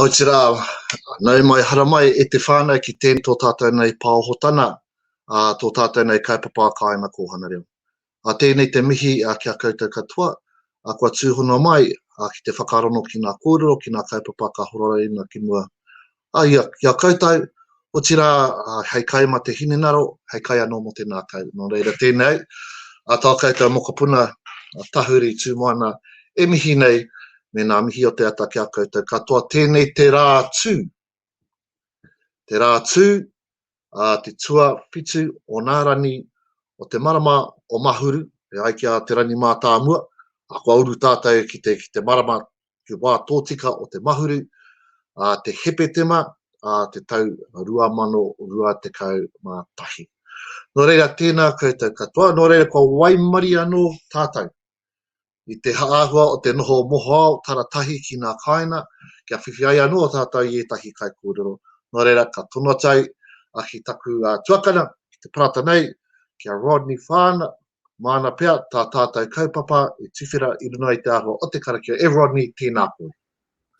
Otirā, nau mai, hara mai e te whānau ki tēnei tō tātou nei pāohotana, tō tātou nei kaupapa a Kāinga Kōhanga Reo. Tēnei te mihi ki a koutou katoa, kua tūhono mai ki te whakarongo ki ngā kōrero, ki ngā kaupapa ka horaraina ki mua A ia, ki a koutou, otirā, hei kai ma te hinengaro, hei kai anō mō te nākau. Nō reira, tēnei, a tō koutou mokopuna, a Tahuri Tūmoana, e mihi nei, me nā mihi o te ata ki a koutou katoa, tēnei te rā tū, te rā tū, ā te tuawhitu o nā rangi o te marama o Mahuru e ai ki a Te Rangimātāmua, ā, kua uru tātou ki te, ki te marama, te wā tōtika o te Mahuru, ā, te Hepetema, ā, te tau 2021. Nō reira, tēnā koutou katoa, nō reira kua waimarie anō tātou i te āhua o te noho mohoao taratahi ki ngā kāinga, kia whiwhi ai anō tātou i ētahi kaikōrero, nō reira ka tono atu ai a ki taku tuakana ki te parata nei, ki a Rodney Whāna, māna pea tā tātou kaupapa i tuwhera i runga i te āhua o te karakia, e Rodney, tēnā koe.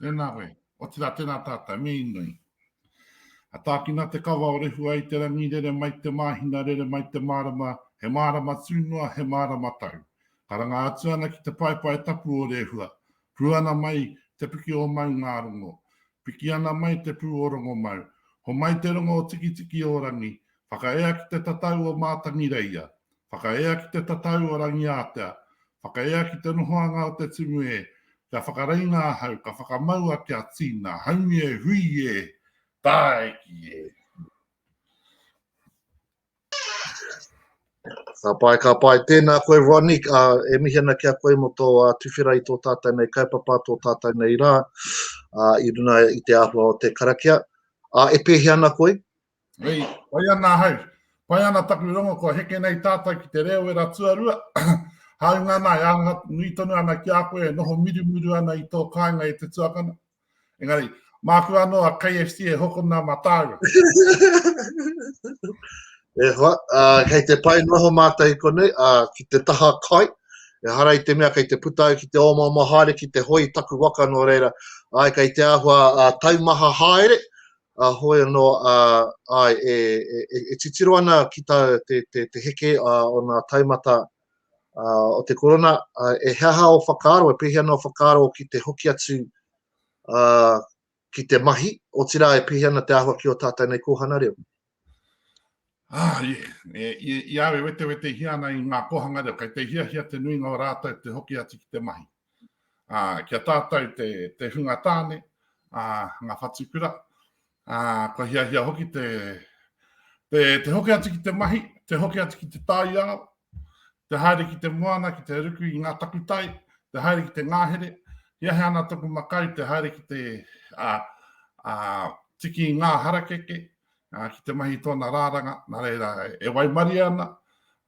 Tēnā koe. Otirā, tēnā tātou, me inoi. A tākina te kawa o Rehua i te rangi rere mai te māhina, rere mai te mārama, he mārama tū noa, he mārama tau. Ka ranga atu ana ki te paepae tapu o Rehua, Pū ana mai te piki o Maungārongo. Piki ana mai te pū o Rongomau. Homai te rongo o Tikitiki-o-rangi, whakaea ki te tatau o Mātangireia. Whakaea ki te tatau o Rangiātea, whakaea ki te nohoanga o te tumu e, kia whakareinga ahau, ka whakamaua kia tīna, haumi e, hui e, tāiki e. Ka pai, ka pai. Tēnā koe, Ronnie. Uh, e mihi ana ki a koe mo tō uh, tuwhera i tō tātou nei kaupapa, tō tātou nei rā, uh, i runa i te āhua o te karakia. Uh, e pēhi ana koe? Hei, pai ana ahau. Pai ana taku rongo kua heke nei tātou ki te reo wera tuarua. Hāunga ana e āha nui tonu ana ki a koe e noho mirumiru ana i tō kāinga e te tuakana. Engari, māku anō a KFC e hokona mā tāua. e hoa, uh, kei te pai noho mātou i konei, uh, ki te taha kai, e hara i te mea kei te puta au ki te ōmama haere, ki te hoi taku waka nō reira, ai kei te āhua uh, taumaha haere, A hoi anō a, āe, e, e, e titiro ana ki tā te, te, te heke a, o ngā taumata a, o te korona, a, e he aha o whakaaro, e pēhea nō whakaaro ki te hoki atu a, ki te mahi, otirā e pēhea ana te āhua ki o tātou nei kōhana reo? Ah, i, e, i, i awe wetewetehia ana i ngā kōhanga reo, kei te hiahia te nuinga o rātou te hoki atu ki te mahi. Ah, kia tātou te, te hunga tāne, ah, ngā whatukura, ah, kua hiahia hoki te, te, te hoki atu ki te mahi, te hoki atu ki te taiao, te haere ki te moana, ki te ruku i ngā takutai, te haere ki te ngāhere, hiahia ana toku makau te haere ki te, ah, ah, tiki i ngā harakeke, uh, ki te mahi tōna rāranga, nā reira e waimaria ana,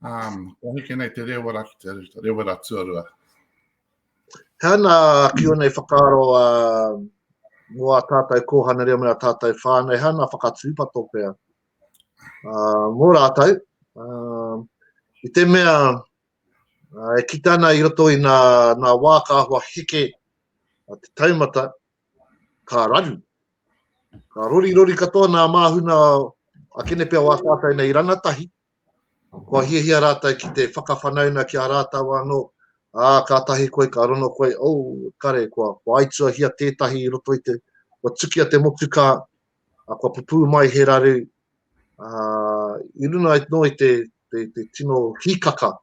um, o heke nei te rewera ki te rewera tuarua. Tēnā ki onei whakaaro a uh, mō a tātou kōhana reo me a tātou whānei, hea nā whakatūpato pēr. Uh, mō rātou, uh, i te mea uh, e kitana i roto i nā, nā wā ka ahua heke uh, te taumata, ka raru. Ka rorirori katoa nā māhuna a Kenepea o Ātātou nei rangatahi, kua hiahia rātou ki te whakawhanauna ki a rātou anō, ā, kātahi koe ka rongo koe, oh, kare, kua, kua aituahia tētahi i roto i te, kua tukia te motukā, ā, kua pupū mai he raru, ā, i runga noa i te, te, te tino hīkaka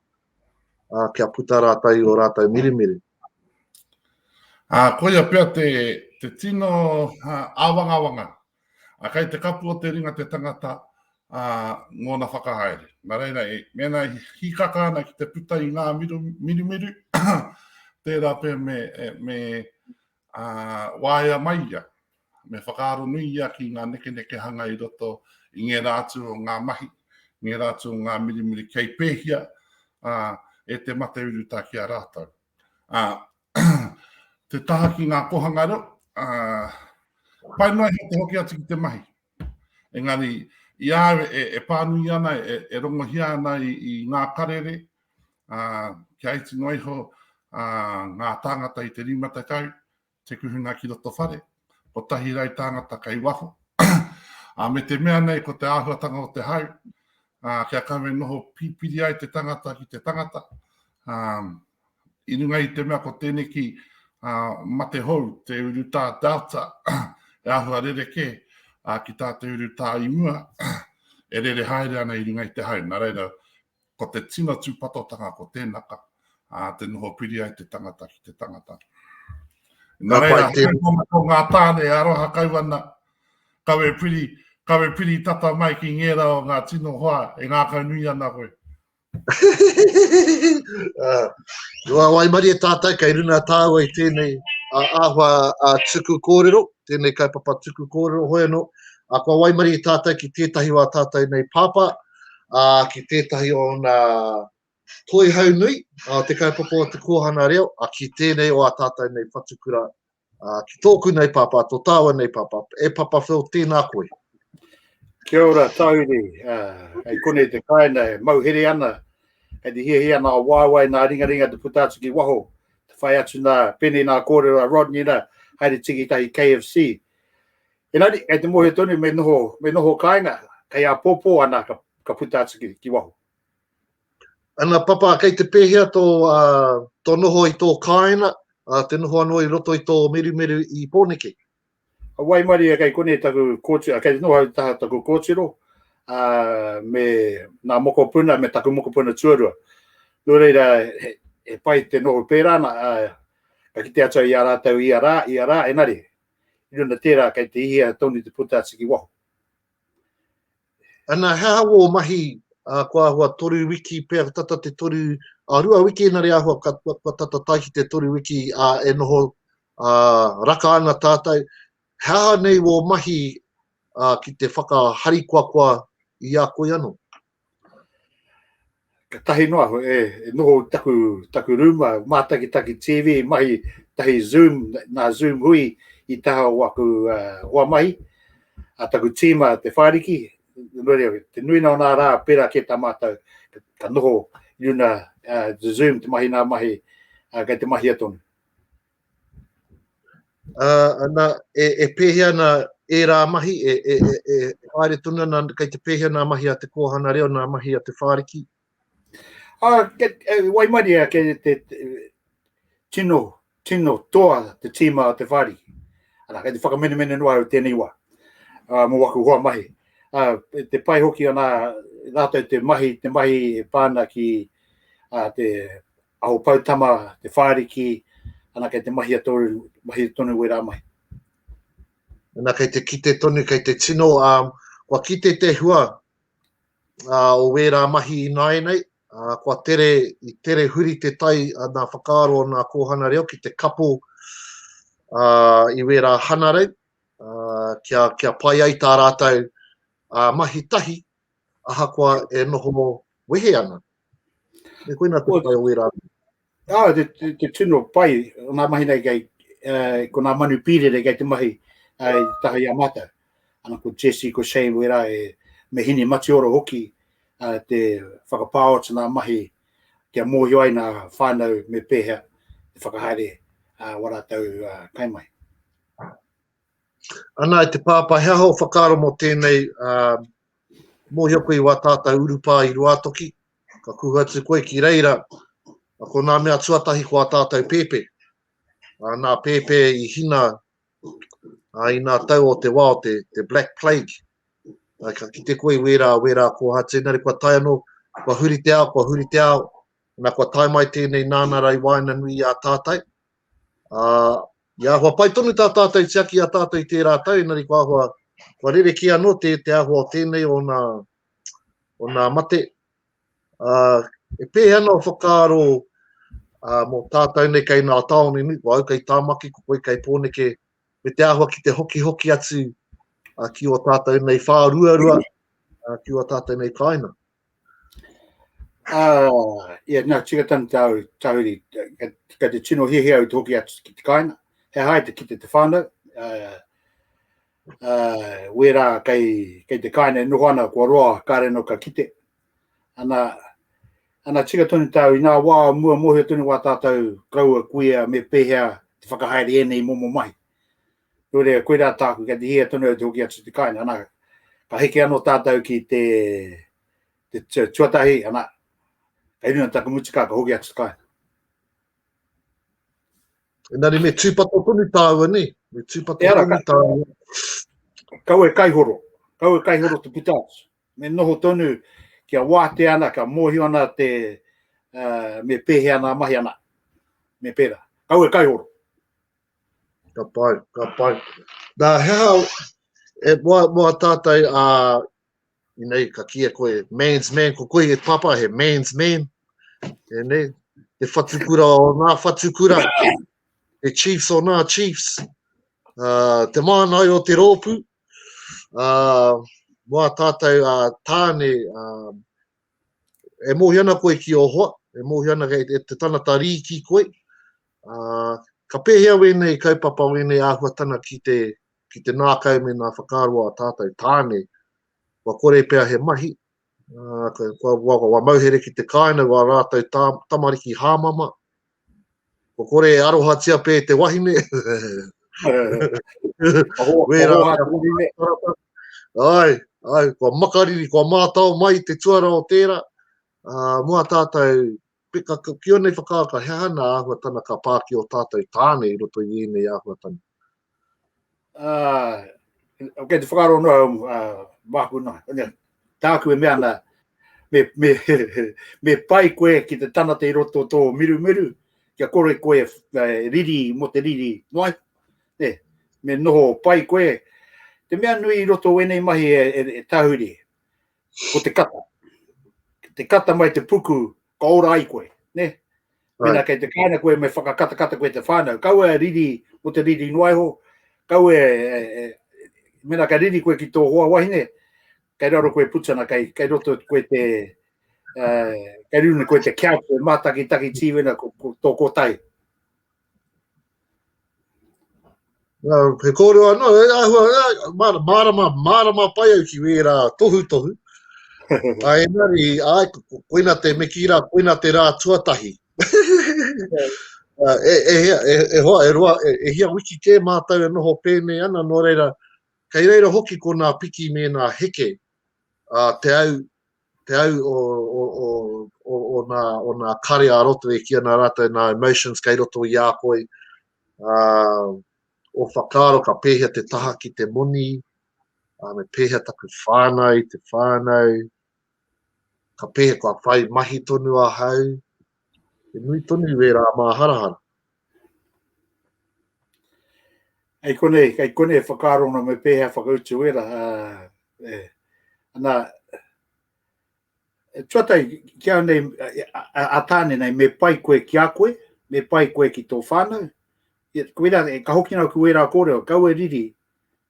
uh, kia puta rātou i o rātou mirimiri. Ā, uh, koia pia te, te tino uh, āwangawanga. A kai te kapu o te ringa te tangata a uh, ngōna whakahaere. Nā reira, e, mēnā i hikaka ana ki te puta i ngā miru, mirimiru, tērā pē me, e, me, Ā, waea mai ia, me whakaaro nui ia ki ngā nekenekehanga i roto i ngērā atu o ngā mahi, ngērā atu o ngā mirimiri kei pēhia, ā, e te mate urutā ki a rātou. Ā, te taha ki ngā kōhanga reo, ā, pai noa iho te hoki atu ki te mahi. Engari, i a au e, e pānui ana, e, e rongohia ana i, i ngā karere, kia iti noa iho ngā tāngata i te rima tekau, te kuhunga ki roto whare, ko tahi rau tāngata kei waho. me te mea nei ko te āhuatanga o te hau, kia kawe noho pipiri ai te tangata ki te tangata, i runga i te mea ko tēneki mate hou, te urutā Delta, e ahua rereke ki tā te urutā i mua, e rere haere ana i runga i te hau. Nā reira, Ko te tino tūpatotanga ko tēnaka, ā, te noho piri ai te tangata ki te tangata. Nā reira, te... ko ngā tāne, aroha kau ana, kawe piri, kawe piri tata mai ki ngērā o ngā tino hoa e ngākau nui ana koe. uh, Rua Waimari e tātou kei runa tāua i tēnei a āhua a tuku kōrero, tēnei kaupapa tuku kōrero hoi anō. A kua waimari i tātou ki tētahi wā tātou nei pāpā, ā, ki tētahi o ōna toihau nui, ā, te kaupapa o te kōhanga reo, ā, ki tēnei o ā tātou nei whatukura, ā, ki tōku nei pāpā, tō tāua nei pāpā, e Papa Phil, tēnā koe. Kia ora, Tauri. Uh, hei kone te kaina e mauhere ana, hei te hiahi ana o wāwai nā ringaringa te puta atu ki waho, te whai atu nā pene nā kōrero a Rodney nā, haere tiki tahi KFC. Engari, kei te mohio tonu me noho, me noho kāinga, kei a pōpō ana ka, ka puta atu ki, ki waho. Ana papa, kei te pēhea tō, uh, tō noho i tō kāinga, uh, te noho anō i roto i tō merumeru i Pōneke? A wai mari e kei kone taku kōtiro, kei te noho au taha taku kōtiro, uh, me nā mokopuna, me taku mokopuna tuarua. Nō reira, he, he pai te noho pērā ana, uh, ka kite atu i a rātou i a rā, i a rā, enari, i runa tērā kei te hihia tonu te puta atu ki waho. Ana, he aha wō mahi uh, kua ahua toru wiki pea tata te toru, a uh, rua wiki ina re ahua ka, kua, kua tata tai ki te toru wiki a uh, e noho uh, raka ana tātou. He aha nei wō mahi uh, ki te whakaharikoakoa i a koe anō? Ka tahi noa, e, e noho taku, taku rūma, mātaki taki TV, mahi tahi Zoom, nā Zoom hui i taha o aku uh, hoa mahi, a taku tīma te whāriki, te nui nā nā rā, pera ke tā mātou, ka noho i una uh, Zoom te mahi nā mahi, uh, kei te mahia tonu. Uh, ana, e, e pēhea ana ērā mahi, e, e, e, e haere tonu ana, kei te pēhea nā mahi a te kōhana reo, nā mahi a te whāriki? Uh, ke, e, waimari a ke te, te, tino, tino toa te tīma a te whāriki. Ana, kei te whakamenemene noa au tēnei wā, uh, mō waku hoa mahi. Uh, te pai hoki ana, rātou te mahi, te mahi e pāna ki uh, te Aho Poutama, Te Whāriki, ana kei te mahia tonu, mahia tonu wērā mahi. Ana kei te kite tonu, kei te tino, um, kua kite te hua uh, o wērā mahi ināianei, uh, kua tere, i tere huri te tai a nā whakaaro o nā kōhana reo ki te kapo uh, i wērā hanarei, uh, kia, kia pai ai tā rātou uh, mahi tahi, ahakoa e noho wehe ana. E koina te whai o wera. Ah, te, te, te tino pai, nā mahi nei kei, uh, ko nā manu pīrere kei te mahi uh, taha i a mātou. Ana ko Jesse, ko Shane, wera e me hini matioro hoki uh, te whakapāot nā mahi kia mōhio ai nā whānau me pēhea te whakahaere uh, wa rātou uh, kai mai. Ana, te pāpā, hea ho whakaaro mō tēnei uh, Mōhio koe i wā tātau urupā i Ruātoki, ka kuhu atu koe ki reira, a ko nā mea tuatahi ko ā tātau pēpē. Ā, nā pēpē i hina ā, i nā tau o te wā o te, te Black Plague. Ā, ka kite koe i wērā, wērā kōhatu, engari kua tae anō, kua huri te ao, kua huri te ao, nā kua tae mai tēnei nāna rā i waenganui i a tātau, Ā, i āhua pai tonu tā tātou i tiaki i a tātou i tērā tau, engari kua āhua, kua rerekē anō te, te āhua o tēnei, ōna, ōna mate. Ā, e pēhea ana ō whakaaro ā, mō tātou nei kei nā tāone nui, ko au kei Tāmaki, ko koe kei Pōneke, me te āhua ki te hokihoki atu ā, ki ō tātou nei whāruarua, ā, ki ō tātou nei kāinga. Uh, yeah, nā, tika tana tāu, tāuri, ka te tino hihi au te hoki atu ki te kāinga, he hae te kite te whānau, uh, uh, wērā kei, kei te kāinga e noho ana, kua roa, ka reno ka kite. Ana, ana tika tonu tāu, i nā wā mua mohio tonu wā tātou kaua kuia me pēhea te whakahaere ēnei momo mai. Koirā, koirā tāku, kei te hia tonu au te hoki atu te kāinga, ana, ka heke anō tātou ki te, te tuatahi, ana, kei runga taku mutika, ka hoki atu te kāinga. Engari me tūpato tonu tāua nei, me tūpato e ara, tonu tāua. Kau e kaihoro, kau e kaihoro te puta atu. Me noho tonu kia wātea ana, kia mōhio ana te, uh, me pēhea ana mahi ana, me pērā. Kau e kaihoro. Ka pai, ka pai. Nā, he aha, e, moa, moa tātai, ā, i nei, ka kia koe, man's man, ko koe e papa, he man's man, e nei, te whatukura o nā whatukura, te chiefs o nā chiefs, ā, te mānai o te rōpū, ā, moa tātai, ā, tāne, ā, e mōhio ana koe ki ō hoa, e mōhio ana e, e te tanata rī ki koe. Uh, ka pēhea wēnei kaupapa, wēnei āhuatana ki te, ki te nākau me nā whakaaro a tātou tāne, wa kore pea he mahi, uh, wa, wa, wa mauhere ki te kāina, wa rātou tā, tamariki hāmama, Ko kore e arohatia pē te wahine. Wērā ngā wahine. Ai, ai, kua makariri, kua mātao mai te tuara o tērā. Uh, mua tātou, peka, ki onei whakaaka, he hana āhuatana ka pā ki o tātou tāne i roto i ēnei āhuatana. Uh, okay, te whakaro no, um, uh, māku nā, tāku e mea nā, me, me, me pai koe ki te tanata i roto tō miru miru, kia kore koe uh, riri mo te riri noai, ne, me noho pai koe, te mea nui i roto wenei mahi e, e, e tahuri, ko te kata. Te kata mai te puku Ka ora ai koe, ne? Mena kei te kāinga koe me whakakatakata koe te whānau, kau e riri mo te riri noa iho, kau e, e, e mena ka riri koe ki tō hoa wahine, kei raro koe putana, kei, kei roto koe te, uh, kei runa koe te kia koe mātaki taki tīwena ko, ko, tō kōtai. He kōrero anō, e ahua, mārama, mārama pai au ki wērā tohutohu. Ai, engari, ai, koina te me kīra, koina te rā tuatahi. e, e, e, e hoa, e roa, e, e hia wiki kē mātou e noho pēnei ana, nō reira, kei reira hoki ko nā piki me nā heke, a, te au, te au o, o, o, o, o, nā, o nā kare a roto e ki ana rātou nā emotions kei roto i a koe. Uh, o whakaaro ka pēhea te taha ki te moni, uh, me pēhea taku whānau, te whānau, ka pēhea kua whai mahi tonu a hau, He nui tonu i wērā māharahara. Hei konei, hei konei e whakaaro ana me pēhea whakautu wērā. Uh, eh. Ana, e tuatai ki au nei, a, a tāne nei, me pai koe ki a koe, me pai koe ki tō whānau. E, wērā, e, ka hoki nau ku wērā kōrero, kau e riri,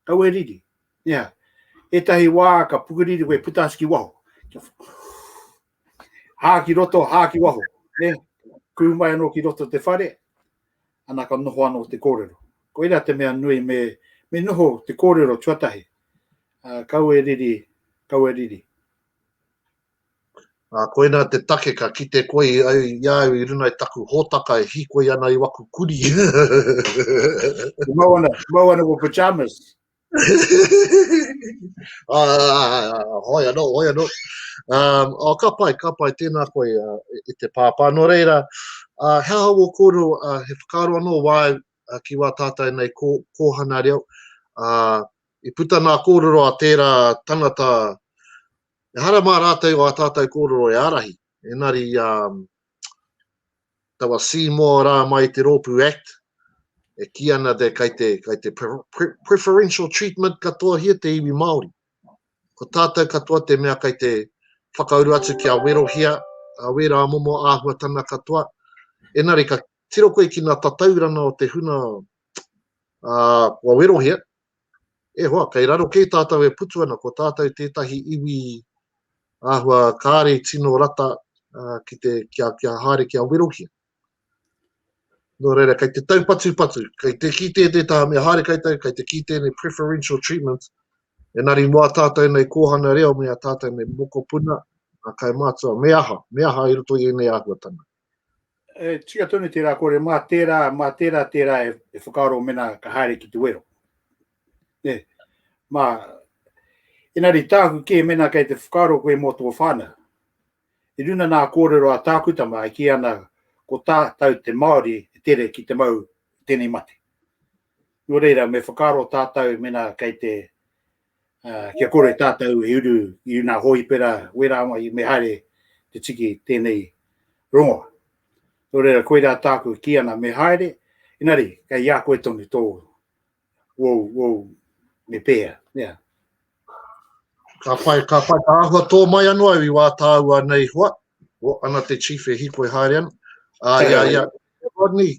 kau e riri. Ia, yeah. etahi wā ka pukuriri koe puta ki waho. Hā ki roto, hā ki waho. Ne? Kū mai anō ki roto te whare, ana ka noho anō te kōrero. Ko era te mea nui me, me noho te kōrero tuatahi. Uh, kau e riri, kau e riri. Uh, koina te take ka kite koe i, i au i runa i taku hōtaka e hikoi ana i waku kuri. mau ana, mau ana ko pyjamas. uh, hoi anō, hoi anō. Um, oh, ka pai, ka pai, tēnā koe uh, i te pāpā. Nō reira, uh, he aha wō kōrero, uh, he whakaaro anō wāu uh, ki wā tātai nei kō, kōhana reo. Uh, I puta nā kōrero a tērā tangata, e hara mā rātou o a tātou kōrero e arahi. Engari i a taua Seymour rā mai i te rōpū Act, e kī ana te kai te, kai te preferential treatment katoahia te iwi Māori. Ko tātou katoa te mea kai te whakauru atu kia werohia a wērā momo āhuatana katoa. Engari ka tiro koe ki ngā tatauranga o te huna uh, kua werohia, E hoa, kei raro kē tātou e putu ana, ko tātou tētahi iwi āhua kāre i tino rata ki te, kia, kia haere, kia werohia. Nō reira, kei te taupatupatu, kei te ki tē tē tāme haere kei tau, kei te ki tēnei preferential treatment, e nari moa tātou nei kōhana reo me a tātou nei mokopuna, a kai mātua, me aha, me aha i roto i ēnei āhuatanga. E tika tonu tērā kore, mā tērā, mā tērā, tērā e, e whakaaro mena ka haere ki te wero. E, mā, enari tāku kē mena kei te whakaaro koe mō tō whānau. I runa nā kōrero a tāku tama e ki ana ko tātou te Māori e tere ki te mau tēnei mate. Nō reira, me whakaaro tātou mena kei te uh, kia kore tātou e uru i una hōipera wera mai me haere te tiki tēnei rongo. Tō reira, koirā tāku ki ana me haere, inari, kei ia koe tonu tō, wou, wou, me pēa, yeah. Ka whai, ka whai, ka ahua tō mai anō au i wā tāua nei hoa, o ana te chief e hiko e haere ana. Ah, ia, ia, Rodney,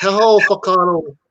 he hao whakaro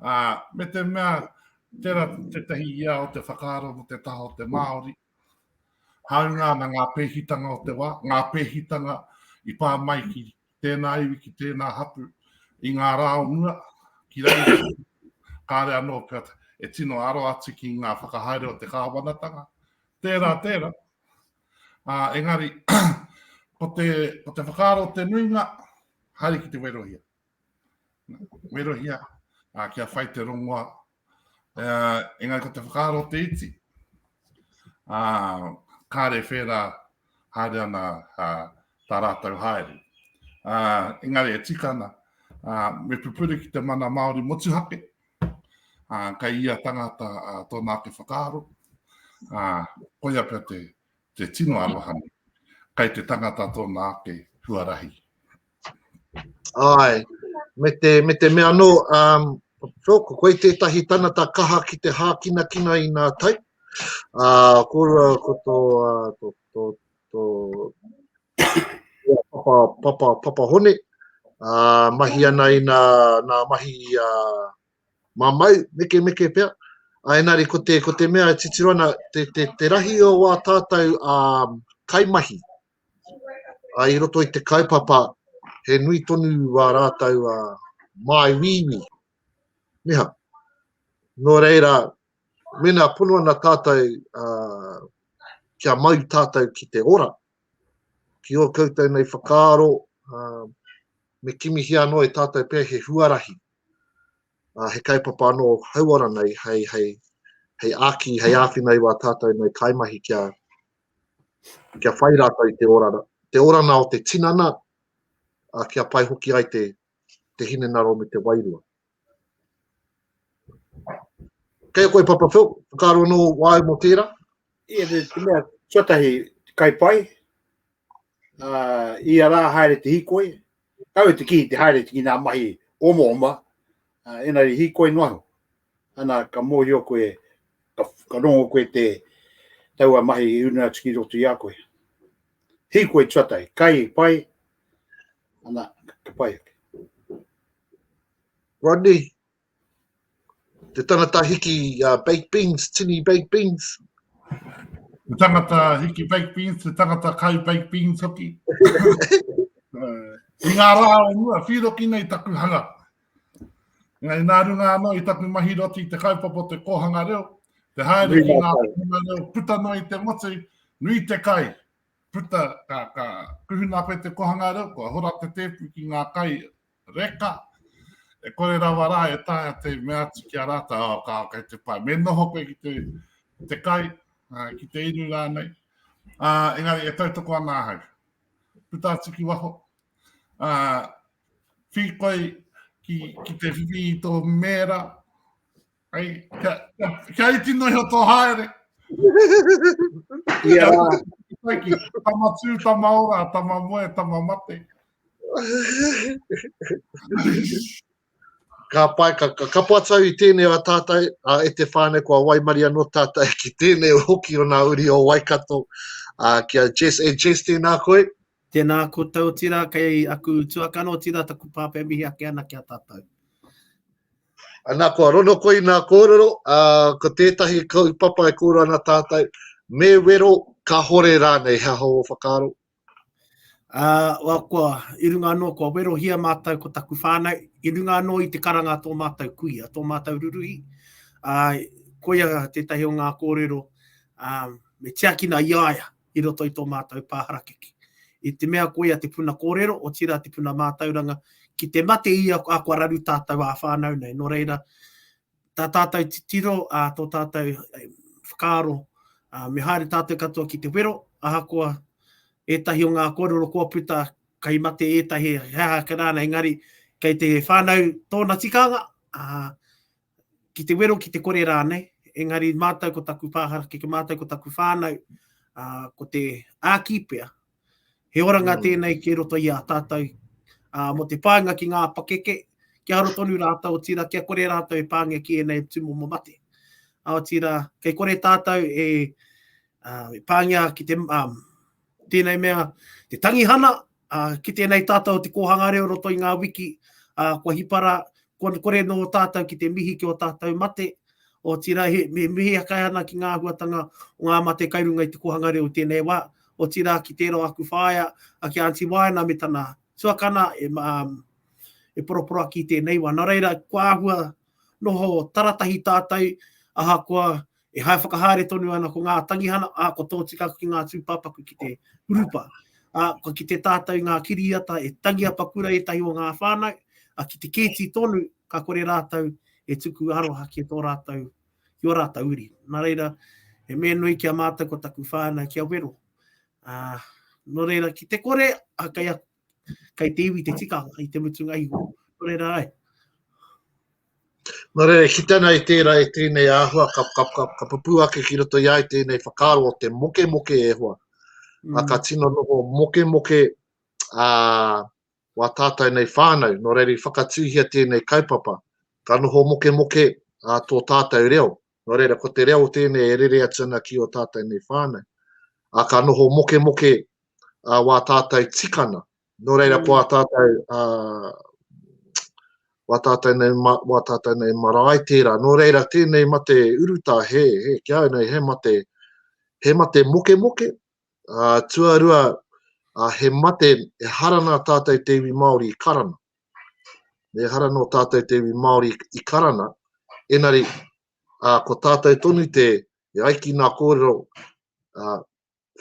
Ā, me te mea, tērā tētahi ia o te whakaaro mō te taha o te Māori, hāunga ana ngā pēhitanga o te wā, ngā pēhitanga i pā mai ki tēnā iwi, ki tēnā hapū, i ngā rā o mua, ki reira, kāre anō pia e tino aro atu ki ngā whakahaere o te kāwanatanga. Tērā, tērā. Ā, engari, ko te, ko te whakaaro o te nuinga, haere ki te werohia. Werohia, uh, kia whai te rongoa. Uh, engari ko te whakaaro te iti. Uh, kāre whērā haere ana uh, tā rātou haere. Uh, engari e tika ana, uh, me pupuri ki te mana Māori motuhake, uh, kai ia tangata uh, tōna ake whakaaro, uh, koia pia te, Te tino arohane, kei te tangata tōna ake huarahi. Ai, me te, me te mea no, um, so, ko koe tētahi tanata kaha ki te hākinakina i nā tai. Uh, ko, ko tō, uh, tō, tō, tō, papa, papa, papa hone, uh, mahi ana i nā, nā mahi uh, mamau, mekemeke pea, ā, engari ko te, ko te mea e titiro ana, te, te, te rahi o wā tātou ā, kaimahi, ā, i roto i te kaupapa, he nui tonu wā rātou ā, māi wīwī, niha. Nō reira, mēnā pono ana tātou ā, kia mau tātou ki te ora, ki ō koutou nei whakaaro, me kimihia anō e tātou pea he huarahi, he kaupapa anō hauora nei hei, hei, hei āki, hei āwhina i wā tātou nei kaimahi kia, kia whai rātou i te orana, te orana o te tinana, kia pai hoki ai te, te hinengaro me te wairua. Kei a koe Papa Phil, whakaaro anō wā au mō tērā? Ia te mea tuatahi kai pai, uh, ia rā haere te hikoi, kau e te kihi te haere te ki nā mahi oma oma, uh, ena ri hikoi no aho. Ana ka mōhio koe, ka, ka rongo koe te taua mahi i una atu ki roto i a koe. Hikoi tuatahi, kai pai, Ana, ka pai ake. Rodney, te tangata hiki uh, baked beans, tini baked beans. Te tangata hiki baked beans, te tangata kai baked beans hoki. uh, I ngā rā o mua, whiroki nei taku hanga. Ngai nā runga anō i taku mahi roti te kaupapa te kōhanga reo, te haere ki ngā kōhanga reo, puta noa i te motu, nui te kai, puta, ka, ka kuhuna koe te kohanga reo, kua hora te tēpu ki ngā kai reka, e kore rawa rā e taea te mea atu ki a rātou, oh, ka, kei te pai. Me noho koe ki te, te kai, uh, ki te iru rānei. Uh, engari, e tautoko ana ahau. Puta atu ki waho. Uh, whi koe ki, ki te whiwhi i tō mēra, Hei, kia, kia, kia iti nohi o tō haere. Ia rā. Tama tū, tama ora, tama moe, tama mate. ka pai, ka, ka kapo atau i tēnei a tātai, a e te whāne kua waimari anō tātai ki tēnei hoki o nā uri o Waikato, a, ki a Jess, e Jess tēnā koe. Tēnā koutou tira, kei aku tuakano tira taku pāpē mihi ake ana ki a tātou. Ana kua rono koe i nā kōrero, ā, ko tētahi kaupapa e kōrero ana tātou, me wero, kahore rānei, he aha ō whakaaro? Uh, well, kua, i runga anō, kua werohia mātou ko taku whānau, i runga anō i te karanga tō mātou kuia, tō mātou ruruhi. Uh, koia tētahi o ngā kōrero, um, me tiakina i aia, i roto i tō mātou pā harakeke. I te mea koia te puna kōrero, otirā te puna mātauranga, ki te mate ia a kua raru tātou ā-whānau nei. Nō reira, tā tātou titiro, tō tātou whakaaro, me haere tātou katoa ki te wero, ahakoa ētahi o ngā kōrero kua puta, kei mate ētahi, he aha ake rānei, engari kei te whānau tōna tikanga, ki te wero, ki te kore rānei, engari mātou ko taku pāharakeke, mātou ko taku whānau, uh, ko te āki pea, he oranga mm. tēnei ki roto i a tātou, uh, mo te pāinga ki ngā pakeke, ki aro tonu rātou o tira, kia kore rātou e pāngia ki ēnei tūmomo mate. Ao tira, kei kore tātou e, uh, e pāngia ki te, um, tēnei mea, te tangihana, Uh, ki tēnei tātou o te kōhanga reo roto i ngā wiki, uh, kua hipara, kua kore nō tātou ki te mihi ki o tātou mate, o tira he, me mihi akai ana ki ngā huatanga o ngā mate kai runga i te kōhanga reo tēnei wā, o tira ki tēro aku whāia, a ki Auntie Waina me tana tuakana, e, um, e poroporo aki tēnei wā. Nā reira, kua ahua noho taratahi tātou, ahakoa E hai whakahaere tonu ana ko ngā tangihana, ā, kua tōtika ki ngā tūpāpaku ki te hurupa. Ā, kua kite tātou i ngā kiriata e tangi apaku rā ētahi o ngā whānau, ā, ki te kēti tonu, ka kore rātou e tuku aroha ki tō rātou, ki ō rātou uri. Nā reira, he mea nui ki a mātou ko taku whānau kia wero. Ā, nō reira, ki te kore, ā, kei a, Kei te iwi te tika i te mutunga iho. Nō reira ai. Nō reira, ki tana i tērā e tēnei āhua, ka, ka, ka, ka papū ake ki roto i ai tēnei whakaaro o te moke moke e hoa. Mm. A ka tino noho moke moke a wā tātou nei whānau, nō reira i whakatūhia tēnei kaupapa. Ka noho moke moke a tō tātou reo, Nō reira, ko te reo tēnei e rere atu ana ki ō tātou nei whānau. Ā, ka noho mokemoke wā tātou tikana. Nō reira, ko ā tātou, wā tātou nei, wā tātou nei marae tērā. Nō reira, tēnei mate urutā, he, he, ki au nei, he mate, he mate mokemoke. Ā, tuarua, he mate, ehara nā tātou te iwi Māori i karanga. Ehara nō tātou te iwi Māori i karana, engari ko tātou tonu te e ai ki ngā kōrero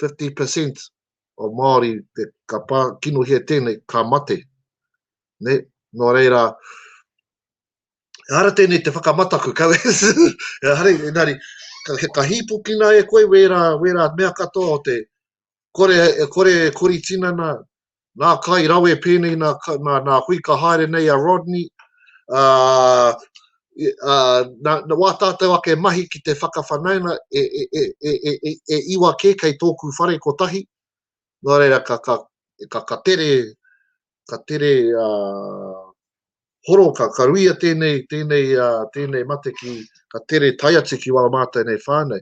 50% o Māori te ka pā kinohia tēnei ka mate. Ne? Nō reira, ehara tēnei te whakamataku, kau ehara, engari ka hīpukina e koe wērā, wērā mea katoa o te, kore e kore e kori tinana nā kai rawe pēnei nā nā hui ka haere nei a Rodney ā ā nā wā tātou ake mahi ki te whakawhanaunga e e e e e e e iwa kē kei tōku whare kotahi nō reira ka ka ka ka tere ka tere horo, ka karuia tēnei mate ki, ka tere tae atu ki wā mātou nei whānau.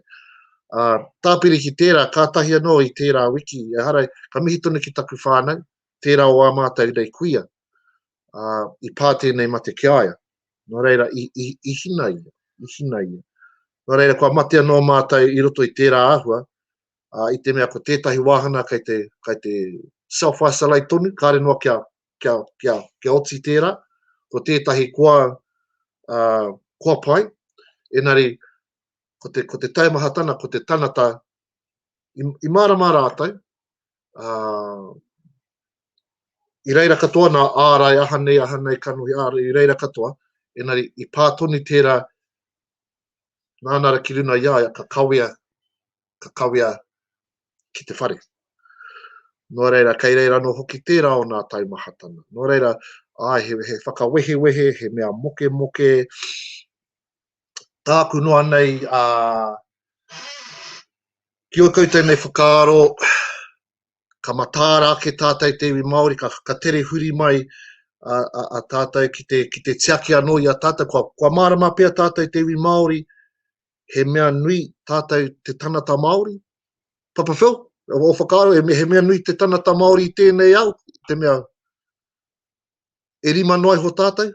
Tāpiri ki tērā, kātahi anō i tērā wiki, ehara, ka mihi tonu ki taku whānau, tērā o ā mātou nei kuia, i pā tēnei mate ki a ia. Nō reira, i hina ia, i hina ia. Nō reira, kua mate anō mātou i roto i tērā āhua, uh, i te mea ko tētahi wāhana kei te, kei te self-isolate tonu, kāre noa kia, kia, kia, kia oti tērā, ko tētahi koa, uh, koa pai, enari, ko te, ko te taimahatana, ko te tanata, i, i mārama rātou, uh, i reira katoa nā ārai aha nei, aha nei kanohi ārai, i reira katoa, enari i pā tonu tērā nānara ki runa i aia, ka kawea ka kawea ki te whare. Nō reira, kei reira anō hoki tērā o nā taimahatanga. Nō reira, āe, he, he whakawehewehe, he mea mokemoke, tāku noa nei, ā, ki o koutou nei whakaaro, ka matāra ake tātou te iwi Māori, ka, ka tere huri mai a, a, a tātou ki te, ki te tiaki anō i a tātou. Kua, kua mārama pia tātou te iwi Māori, he mea nui tātou te tanata Māori? Papa Phil, o whakaaro, he mea, he mea nui te tanata Māori i tēnei au, te mea, e rima noa iho tātou?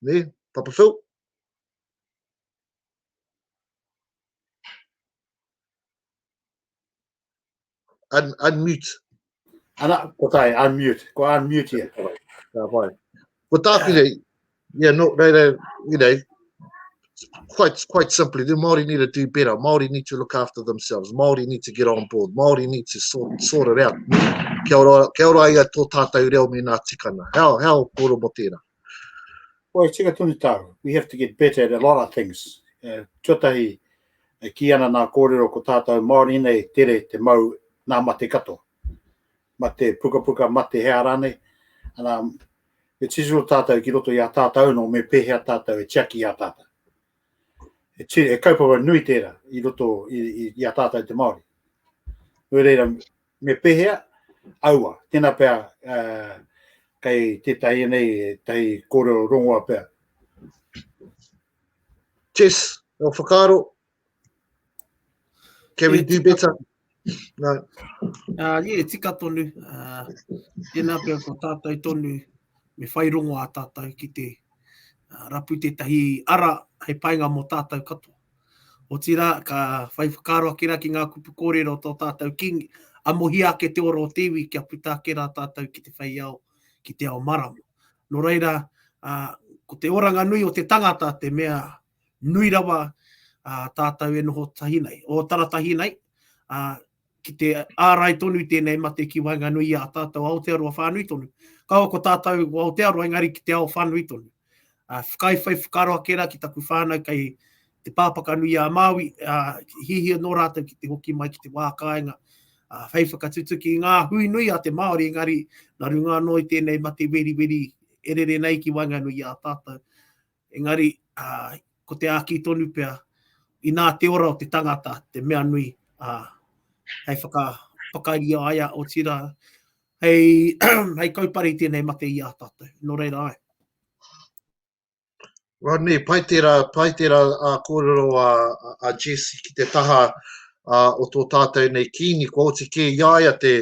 Ne, Papa Phil? Un, unmute. Ana, ko tai, unmute. Ko unmute ia. Ka pai. Ko tāku nei, yeah, no, rei, rei, you know, quite, quite simply, the Māori need to do better. Māori need to look after themselves. Māori need to get on board. Māori need to sort, sort it out. Kia ora, kia ora ia tō tātou reo me nā tikana. How, how, kōro mo tēnā. Wai, tika tonu tāu. We have to get better at a lot of things. Uh, tuatahi, e ki ana nā kōrero ko tātou Māori nei tere te mau nā mate katoa. Mate pukapuka, mate hea rānei. And, um, e titiro tātou ki roto i a tātou no me pēhea tātou e tiaki i a tātou. E, tira, e kaupapa nui tērā i roto i, i, i a tātou te Māori. Nui reira, Me pehea? Aua, tena pea uh, kei tetahi nei, tahi koreo rongoa pea. Jess, o whakaro. Can we do better? No. Uh, yeah, tika tonu. Uh, tena pea ko tātou tonu, me whai rongo a tātou ki te uh, rapu tetahi ara hei painga mo tātou katoa. Otirā, ka whai whakaaro ake rā ki ngā kupu kōrero o tō tātou Kīngi, amohia ake te ora o te iwi kia puta ake rā tātou ki te whei ao, ki te ao marama. Nō reira, ko te oranga nui o te tangata te mea nui rawa tātou e noho tahi nei, o taratahi nei, ki te ārai tonu tēnei mate ki waenganui i a tātou Aotearoa whānui tonu. Kaua ko tātou ko Aotearoa, engari ki te ao whānui tonu. Uh, whakai whai whakaro ake rā ki taku whānau kei te pāpaka nui a Māui, uh, hihia nō rātou ki te hoki mai ki te wā kāinga, uh, whai whakatutuki i ngā hui nui a te Māori, engari nā runga anō i tēnei mate weri weri e rere nei ki waenganui i a tātou. Engari, ā, ko te āki tonu pea, inā te ora o te tangata te mea nui, ā, hei whakapakari i a ia, otirā, hei, hei kaupare i tēnei mate i a tātou. Nō reira, āe. Rodney, pai tērā, pai tērā ā kōrero a, a Jess ki te taha ā, o tō tātou nei kīngi, kua oti kē i a ia te,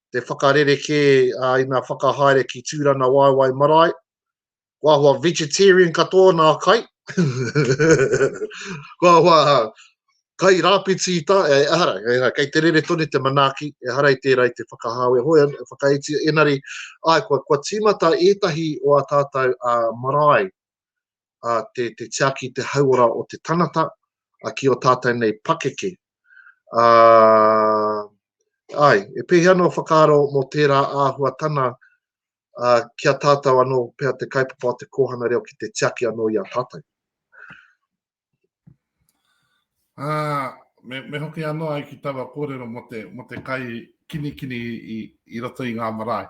te whakarere kē ā, i ngā whakahaere ki Tūrana Waewae Marae, ko ahua vegetarian katoa nā kai, ko ahua kai rāpiti i tā, e, ehara, ehara, kei te rere tonu te manaaki, ehara i tērā i te whakahau, e hoi, e whakaetia, enari, ai, kua, kua tīmata ētahi o a tātou a marae, a te, te tiaki, te hauora o te tangata, a ki o tātou nei pakeke. A, ai, e pēhea no whakaaro mō tērā āhuatana ā, ki a tātou anō pea te kaupapa o te kōhanga reo ki te tiaki anō i a tātou. Ā, me, me hoki anō ai ki taua kōrero mo te, mo te kai kinikini i, i roto i ngā marae.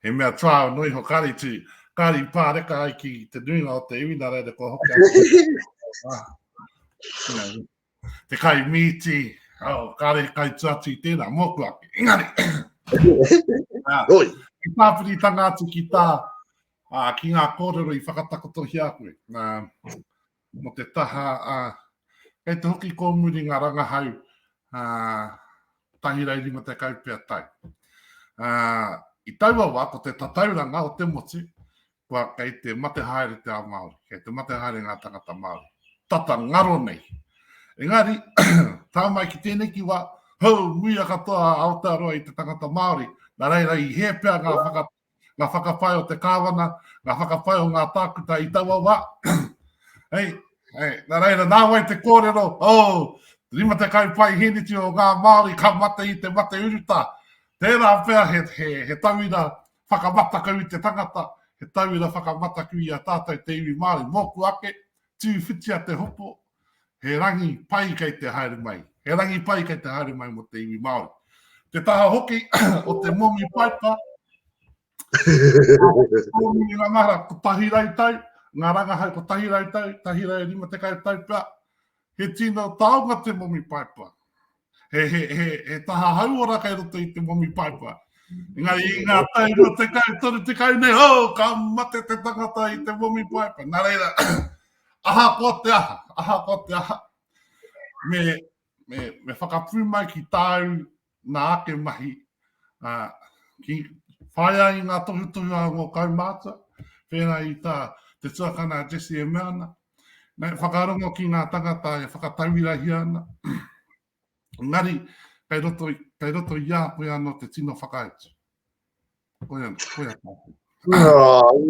He mea trial nui ho kāri tū, kāri pāreka ai ki te nuinga o te iwi, nā reira kua hoki ai. te kai mīti, oh, kāre he kai tuatu i tēnā, mōku ake. Engari! Roi! Ki tāpiritanga atu ki tā, uh, ki ngā kōrero i whakatakotohia koe. Uh, mo te taha, uh, kei te hoki kōmuri ngā rangahau, uh, tahirai rima te kaupea tai. Uh, I taua wā, ko te tatauranga o te motu, kua kei te mate haere te ao Māori, kei te mate haere ngā tangata Māori, tata ngaro nei. Engari, tā mai ki tēnei ki wā, hou, muia katoa a Aotearoa i te tangata Māori, nā reira i hē pea ngā whakapā ngā whakapae o te kāwana, ngā whakapae o ngā tākuta i taua wā. hei, hei, nā reira, nā wai te kōrero, oh, rima te kai pai hiniti o ngā Māori ka mate i te mate uruta. Tērā pea he, he, he tauira Whakamataku i te tangata, he tauira whakamataku i a tātou te iwi Māori. Mōku ake, tū whitia te hoko, he rangi pai kei te haere mai, he rangi pai kei te haere mai mō te iwi Māori. Te taha hoki o te momi paipa, momi i ngā mahara kotahi rau tau, ngā rangahau kotahi rau tau, tahi rau rima tekau tau pea, he tino taonga te momi paipa. He, he, he, he taha hauora kei roto i te momi paipa. Engari i ngā tau no te kau, toru te kau nei, ho, ka mate te tangata i te momi paipa. Nā reira, aha ko te aha, aha ko te aha. Me, me, me whakapū mai ki tāu nā ake mahi, uh, ki whaia i ngā tohutohu a ngō kaumātua, pēnā i tā te tuakana Jesse e mea ana, Me whakarongo ki ngā tangata e whakatauirahia ana, engari kei roto, kei roto i a koe anō te tino whakautu. Koe ana, koe ana.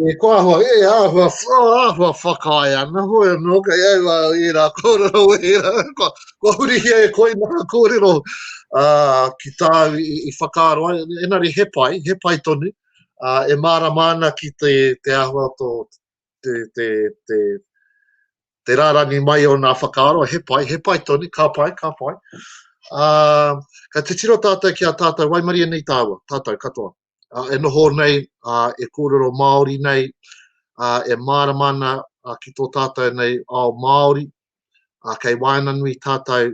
E ko ahua, e ahua, ahua whakae ana, hoi anō, kei au a e rā kōrero e rā, kua, kua hurihia e koe nā kōrero uh, ki tāu i, i whakaaro ai, enari he pai, he pai tonu, uh, e mārama ana ki te, te ahua tō, te, te, te, te rārangi mai o nā whakaaro, he pai, he pai tonu, ka pai, ka pai. Uh, ka te tiro tātou ki a tātou, waimaria nei tāua, tātou katoa. Uh, e noho nei, uh, e kōrero Māori nei, uh, e mārama ana uh, ki tō tātou nei ao Māori, uh, kei waena nui tātou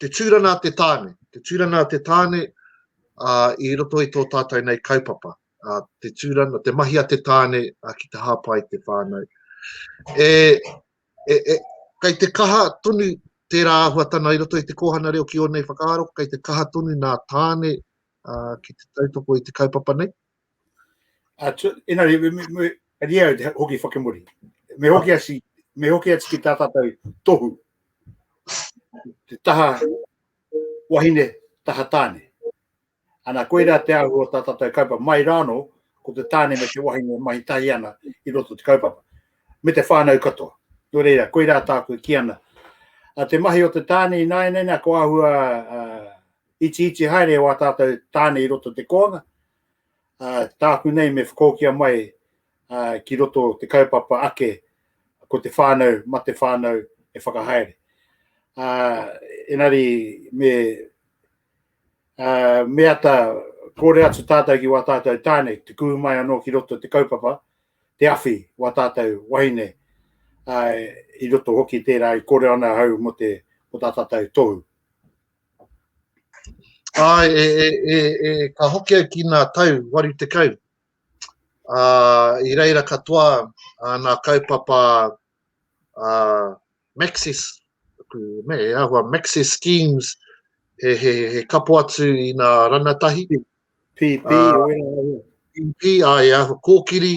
Te tūrana a te tāne, te tūrana a te tāne i roto i tō tātou nei kaupapa. Te tūrana, te mahi a te tāne ki te hāpai te whānau. E, e, e, kei te kaha tonu tērā āhuatana i roto i te kōhana reo ki ōnei whakaaro, kei te kaha tonu nā tāne uh, ki te tautoko i te kaupapa nei? A tu, ina re, me, me, me, ari au te hoki whakemori. Me hoki asi, me hoki ati ki tā tātou tohu. Te taha wahine, taha tāne. Ana koe rā te ahu o tā tātou kaupa mai rāno, ko te tāne me te wahine mahi tahi ana i roto te kaupapa. Me te whānau katoa. Nō reira, koe rā tāku ki ana. A te mahi o te tāne i nāia nei, nā, ko ahua uh, Iti iti haere e wā tātou tāne i roto te kōanga, tāku nei me whakōkia mai ki roto te kaupapa ake ko te whānau, ma te whānau e whakahaere. Uh, enari me uh, me ata kore atu tātou ki wā tātou tāne, te kū mai anō ki roto te kaupapa, te awhi wā tātou wahine, uh, i roto hoki tērā i kore ana hau mo te, mo tā tātou tohu. Āe, e, e, e, e, ka hoki au ki nā tau waru te kau. Ā, i reira katoa ā, nā kaupapa ā, Maxis, aku me e ahua Maxis Schemes, he, he, he kapo atu i nā ranatahi. PP, ā, PP, ā, e ahua kōkiri,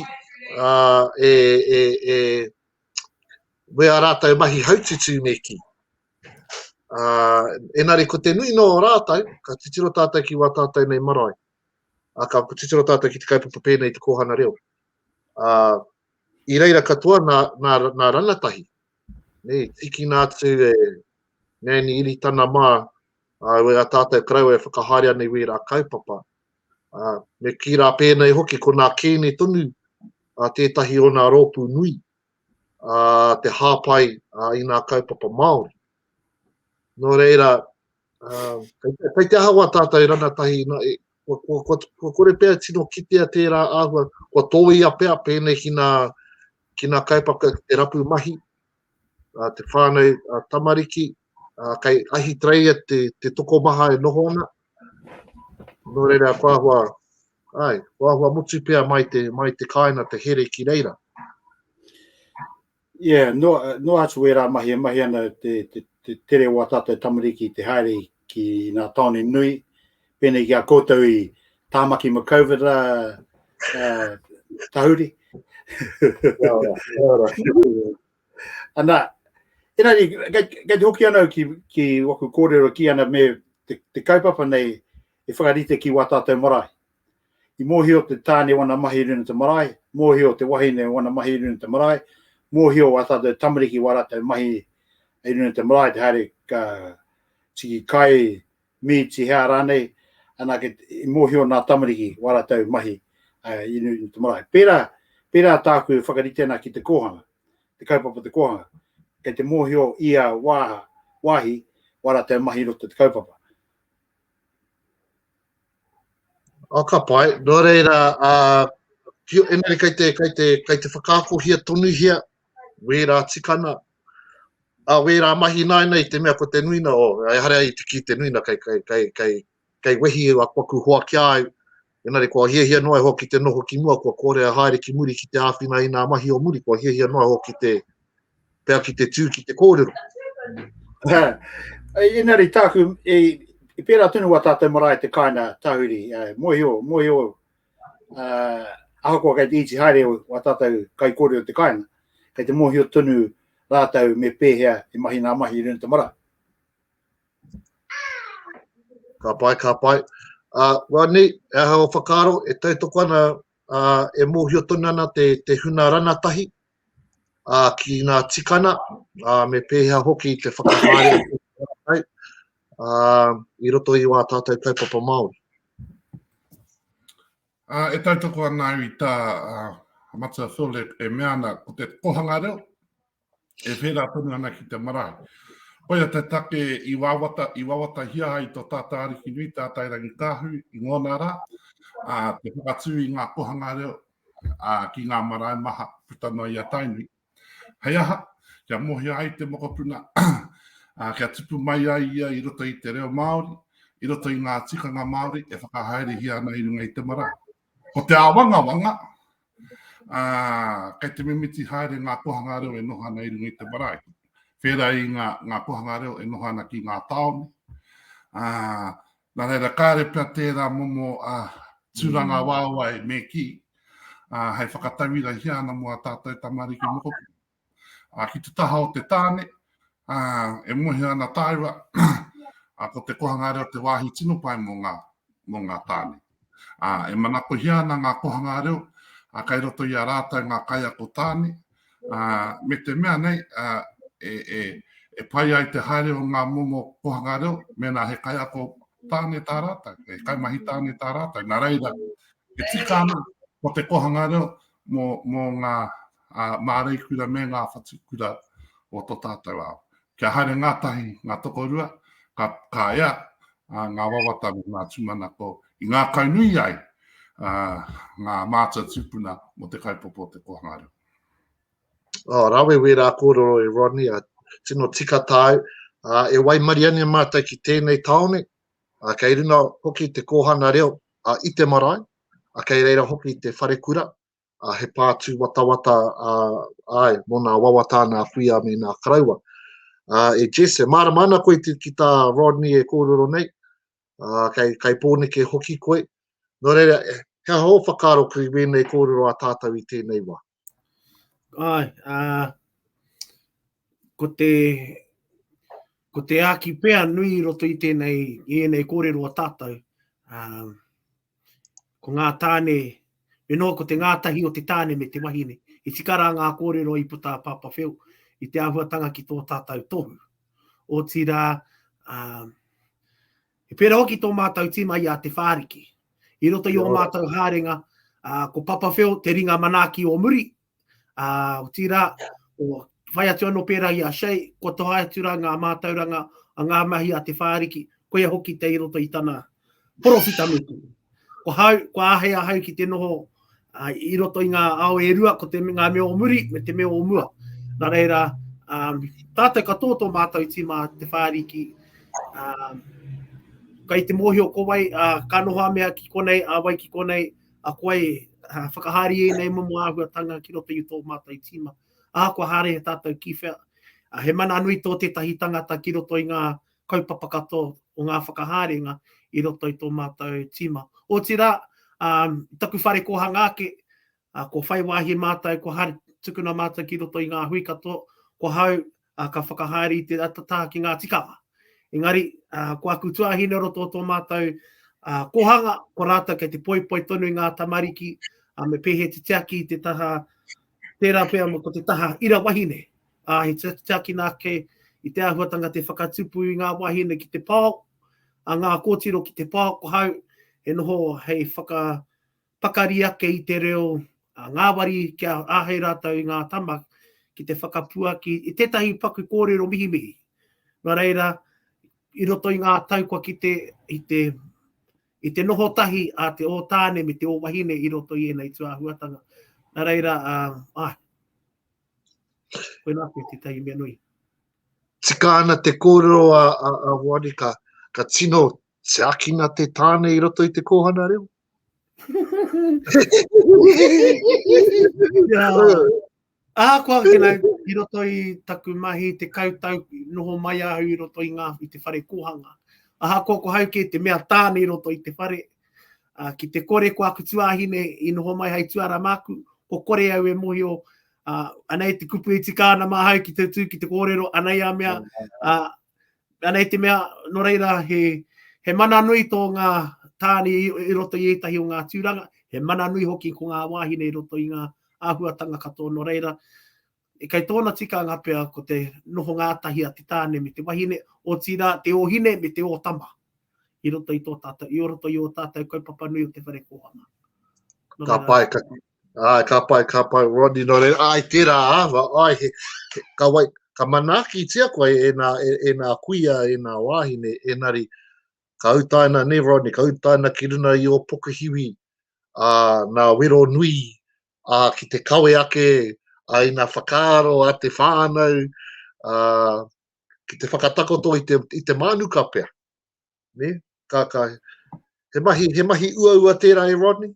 ā, e, e, e, wea rātou mahi haututu me ki. Ā, engari ko te nui nō rātou, ka titiro tātou ki wā tātou nei marae. Ā, ka titiro tātou ki te kaupapa pēnei i te kōhanga reo. Ā, i reira katoa nā, nā, nā rangatahi, ne, tikina atu e Nanny Iritana mā, ā, e a tātou karaua e whakahaere ana i wērā kaupapa. Ā, me kī rā pēnei hoki, ko nā Kēne tonu ā tētahi o nā rōpū nui te hāpai i ngā kaupapa Māori. Nō reira, kei te aha wā tātou e rangatahi, kua kore pea e tino kitea tērā āhua, kua tōia pea pēnei ki ngā kaupapa, te rapu mahi, te whānau tamariki, uh, kei Ahitereia te, te tokomaha e noho ana. Nō reira, wāhua, ai, wāhua mutu pia mai te, mai te kāina te here ki reira. Yeah, no, no atu e rā mahi e mahi ana te, te, te tere o atata e tamariki te haere ki nā taone nui. Pēnei ki a koutou i Tāmaki ma COVID rā uh, tahuri. Ana, ina ni, kei te hoki ana ki, ki waku kōrero ki ana me te, te kaupapa nei e whakarite ki wā tātou marae. I mōhio te tāne wana mahi runa te marae, mōhio te wahine wana mahi runa te marae, mōhio wā tātou tamariki wā rātou mahi e runa te marae, te haere ka tiki kai, mīti, hea rānei, anake i mōhio nā tamariki wā rātou mahi i nui i te marae. Pērā, pērā tāku e whakarite ana ki te kōhanga, te kaupapa te kōhanga, kei te mōhio ia wāha, wāhi, wā rātou mahi roto te kaupapa. Oh, ka pai, nō reira, uh, engari kei te, kei te, kei te whakaakohia tonuhia wērā tikana, ā, wērā mahi ināianei i te mea ko te nuina o, ehara i te kī te nuina kei, kei, kei, kei, kei wehi e wakuwaku hoakia ai, engari kua hiahia noa iho ki te noho ki mua, kua kore e haere ki muri ki te āwhina i ngā mahi o muri, kua hiahia noa iho ki te, pea ki te tū ki te kōrero. Engari tāku, i, i pērā tonu wā tātou marae te kāina tahuri, mōhio, mōhio Uh, ahakoa kei te iti haere o a tātou kai kore o te kāinga, kei te mōhio tonu rātou me pēhea e mahi ngā mahi i runa te mara. Ka pai, ka pai. Uh, wā nei, e aha o whakaaro, e tautoko ana, uh, e mōhio tonu ana te, te huna ranatahi, ki ngā tikana, me pēhea hoki te whakahaere atu ki a rātou i roto i wā tātou kaupapa Māori. E tautoko ana au i tā Matua Phil e mea ana, ko te kōhanga reo e pērā tonu ana ki te marae. Koia te take i wawatahia ai tō tātou Ariki nui, Tātairangikaahu, i ngōna rā, te whakatū i ngā kōhanga reo, ā, ki ngā marae maha puta noa i a Tainui. Hei aha, kia mohia ai te mokopuna, ā, kia tipu mai ai ia i roto i te reo Māori, i roto i ngā tikanga Māori e whakahaerehia ana i runga i te marae. Ko te āwangawanga, ā, kei te mimiti haere ngā kohanga reo e noho ana i runga i te marae. Whērā i ngā, ngā kohanga reo e noho ana ki ngā tāone, ā, Nā reira, kāre pea tērā momo tūrangawaewae me kī, hei whakatauirahia ana mō ā tātou tamariki mokopuna. Ki te taha o te tāne, e mōhio ana tāua, ko te kohanga reo te wāhi tino pai mō ngā, mō ngā tāne. E manakohia ana ngā kohanga reo, kei roto i a rātou ngā kaiako tāne, me te mea nei e pai ai te haere o ngā momo kōhanga reo mēnā he kaiako tāne tā rātou, he kaimahi tāne tā rātou. Nā reira, e tika ana ko te kōhanga reo mō ngā māreikura me ngā whatukura o tō tātou ao. kia haere ngātahi ngā tokorua, ka, ka ea ā, ngā wawata me ngā tūmanako i ngākaunui ai ā, ngā mātua tūpuna mō te kaupapa o te kōhanga reo. Oh, rawe wērā kōrero e Rodney, a tino tika tāu. Uh, e waimarie ane mātou ki tēnei taone, uh, kei runa hoki te kōhanga reo uh, i te marae, uh, kei reira hoki te wharekura, a he pā tūwatawata a, ai, mō nā wawata nā kuia me nā karaua. A, e Jess, e mārama ana koe te, ki tā Rodney e kōrero nei, a, kei, kei pōneke hoki koe. Nō reira, he hō whakaaro ki wēnei kōrero a tātou i tēnei wā? Ai, a, ko te, ko te āki pea nui i roto i tēnei, i ēnei kōrero a tātou, um, Ko ngā tāne, me noa ko te ngātahi o te tāne me te wahine. I tika rā ngā kōrero i puta a Pāpā Whiu i te āhuatanga ki tō tātau tohu. Otirā, um, he pērā hoki tō mātau tīma i a Te Whāriki. I roto i o mātau hārenga, uh, ko Papa Whiu te ringa manaaki o muri, Uh, otirā, o, whai atu anō pērā i a Shea, kua toha atu rā ngā mātauranga a ngā mahi a te whāriki, koia hoki te i roto i tana porofita nuku. Ko hau, ko āhei a hau ki te noho uh, i roto i ngā ao e rua, ko te ngā mea o muri me te mea o mua. Nā reira, um, tātou ka tō tō mātou tīma te whāriki, um, kai te mōhio ko wai, uh, ka noho a mea ki konei, a wai ki konei, a koe uh, whakahaere i ēnei momo āhuatanga ki roto i tō mātou tīma. Ahakoa haere he tātou ki whea, uh, he mana nui tō tētahi tangata ki roto i ngā kaupapa katoa o ngā whakahaerenga i roto i tō mātou tīma. Otirā, um, taku whare kōhanga ake, uh, ko whai wāhi mātou, ko haere tukuna mātou ki roto i ngā hui katoa, ko hau, ā, ka whakahaere i te atatā ki ngā tikanga. Engari, ā, ko aku tuāhine roto o tō mātou ā, kōhanga, ko rātou kei te poipoi tonu i ngā tamariki, ā, me pēhea te tiaki i te taha, tērā pea ko te taha ira wahine. Ā, he tiakina ake i te āhuatanga te whakatupu i ngā wāhine ki te pao, a ngā kōtiro ki te pao, ko hau e noho hei whaka, Pakari ake i te reo ngāwari kia āhei rātou i ngā tama ki te whakapuaki i tētahi paku kōrero mihimihi. Nō reira, i roto i ngā tau kua kite i te i te noho tahi a te ōtāne me te ōwahine i roto i ēnei tūāhuatanga. Nā reira, uh, ai, koe nā koe tētahi mea nui. Tika ana te kōrero a, a, a Moanika, ka tino tiakina te tāne i roto i te kōhana reo? Ahakoa ki nā, i roto i taku mahi te kautau noho mai ahu i roto i ngā i te whare kōhanga. Ahakoa ko hau kē te mea tāne i roto i te whare, uh, ki te kore ko aku tuāhine i noho mai hai tuara māku, ko kore au e mohio, uh, anei te kupu i tika ana māhau ki te tū ki te kōrero, anei a mea, uh, Anei te mea, no reira, he, he mana nui tō ngā tāne i, i roto i ētahi o ngā tūranga, he mana nui hoki ko ngā wāhine i roto i ngā āhuatanga katoa no reira. E kei tōna tikanga pea ko te noho ngātahi a te tāne me te wahine, otirā te ōhine me te ōtama i roto i tō tātou, i roto i ō tātou kaupapa nui o te whare kōhanga. Ka pae, ka, Ai, ka pai, ka pai, Rodney, nō reira, ai, tērā āva, ai, he, he, ka wai, ka manaakitia koe e nā, e, e nā kuia, e nā wāhine, enari, ka utaina nei, Rodney, ka utaina ki runa i o pokuhiwi, a, nā wero nui, a, ki te kawe ake, a, i nā whakaaro a te whānau, a, ki te whakatakoto i te, i te mānuka pea. ne? Ka, ka, he mahi, he mahi uaua tērā e Rodney?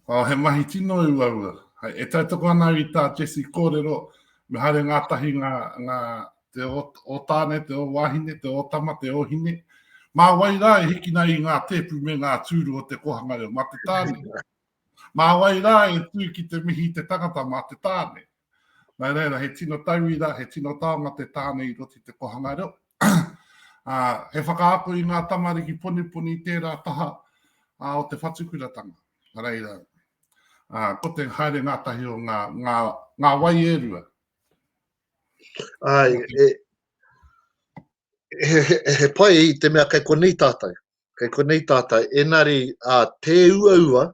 Oh, he mahi tino uaua. Hai, e tautoko ana i tā Jesse kōrero, me haere ngātahi ngā, ngā te o, o tāne, te o wāhine, te o tama, te o hine. Mā wai rā e hikina i ngā tēpu me ngā tūru o te kohanga reo, mā te tāne. Nā wai rā e tū ki te mihi te tangata mā te tāne. Nā reira, he tino tauira, he tino taonga te tāne i roto i te kōhanga reo. Ā, he whakaako i ngā tamariki poniponi i tērā taha ā, o te whatukuratanga. Nā reira, ā, ko te haere ngātahi o ngā, ngā, ngā wai e rua. Āe, e, he, he, he pai i te mea kei konei tātou. kei konei tātou, engari a Te Uaua,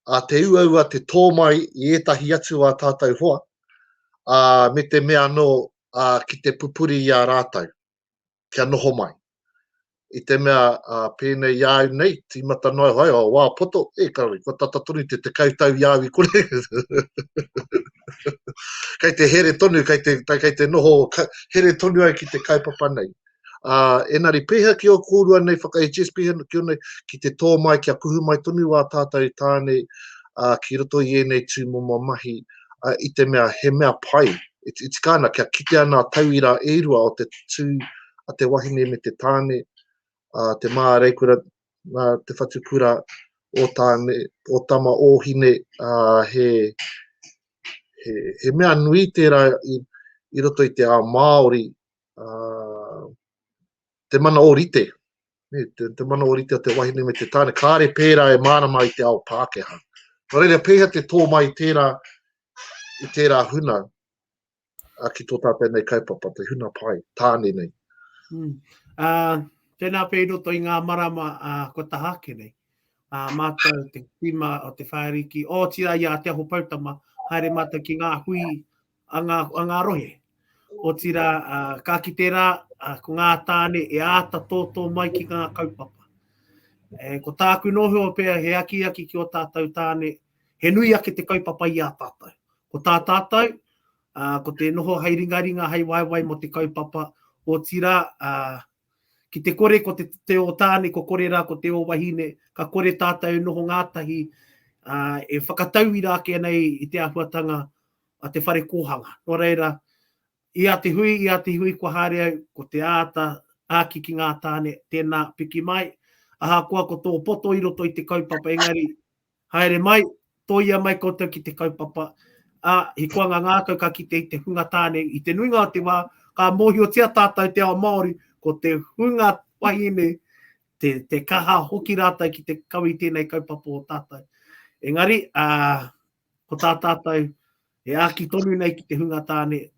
a Te Uaua te tō mai i ētahi atu o a tātou hoa, a, me te mea anō a, ki te pupuri i a rātou, kia noho mai. I te mea a, pēnei i a au nei, tīmata noa au hai o wā poto, e kare, kua tata tonu te tekau tau i a au i kore. kei te here tonu, kei te, kei te noho, here tonu au ki te kaupapa nei. Ā, engari pēhea ki ō kōrua nei whakahs, pēhea anō ki ō nei, ki te tō mai kia kuhu mai tonu wā tātou i tāne, ā, ki roto i ēnei tūmomo mahi, ā, i te mea he mea pai, e, e tika ana kia kitea ngā tauira e rua o te tū a te wahine me te tāne, ā, te māreikura, ā, te whatukura o tāne, o tama, o hine, ā, he, he, he mea nui tērā i, i roto i te ao Māori, uh, te mana o rite, ne, te, te mana o rite o te wahine me te tāne, kāre pērā e mārama i te ao Pākehā. Nō reira, pēhea te tō mai tērā, i tērā huna a ki tō tātou nei kaupapa, te huna pai, tāne nei. Hmm. Uh, tēnā pē roto i ngā marama uh, ko tahake nei. Uh, mātou te tima o te whāriki, o tira i a Te Aho Poutama, haere mātou ki ngā hui a ngā, a ngā rohe. Otirā, uh, ka kite rā, uh, ko ngā tāne e āta tōtō mai ki ngā kaupapa. E, ko tāku nohua pea he akiaki ki o tātou tāne, he nui ake te kaupapa i a tātou. Ko tā tātou, uh, ko te noho hei ringaringa, hei waewae mo te kaupapa, o tira, uh, ki te kore ko te, te o tāne, ko kore rā ko te o wahine, ka kore tātou noho ngātahi, uh, e whakatauira ake nei i te ahuatanga a te whare kōhanga. Nō reira, ia te hui, ia te hui kua haere au, ko te āta āki ki ngā tāne, tēnā, piki mai, ahakoa ko tō poto i roto i te kaupapa engari, haere mai, tōia mai koutou ki te kaupapa, ā, he koanga ngākau ka kite i te hunga tāne, i te nuinga o te wā, ka mōhiotia tātou te ao Māori, ko te hunga wahine, te, te kaha hoki rātou ki te kawe i tēnei kaupapa o tātou. Engari, ā, ko tā tātou e āki tonu nei ki te hunga tāne.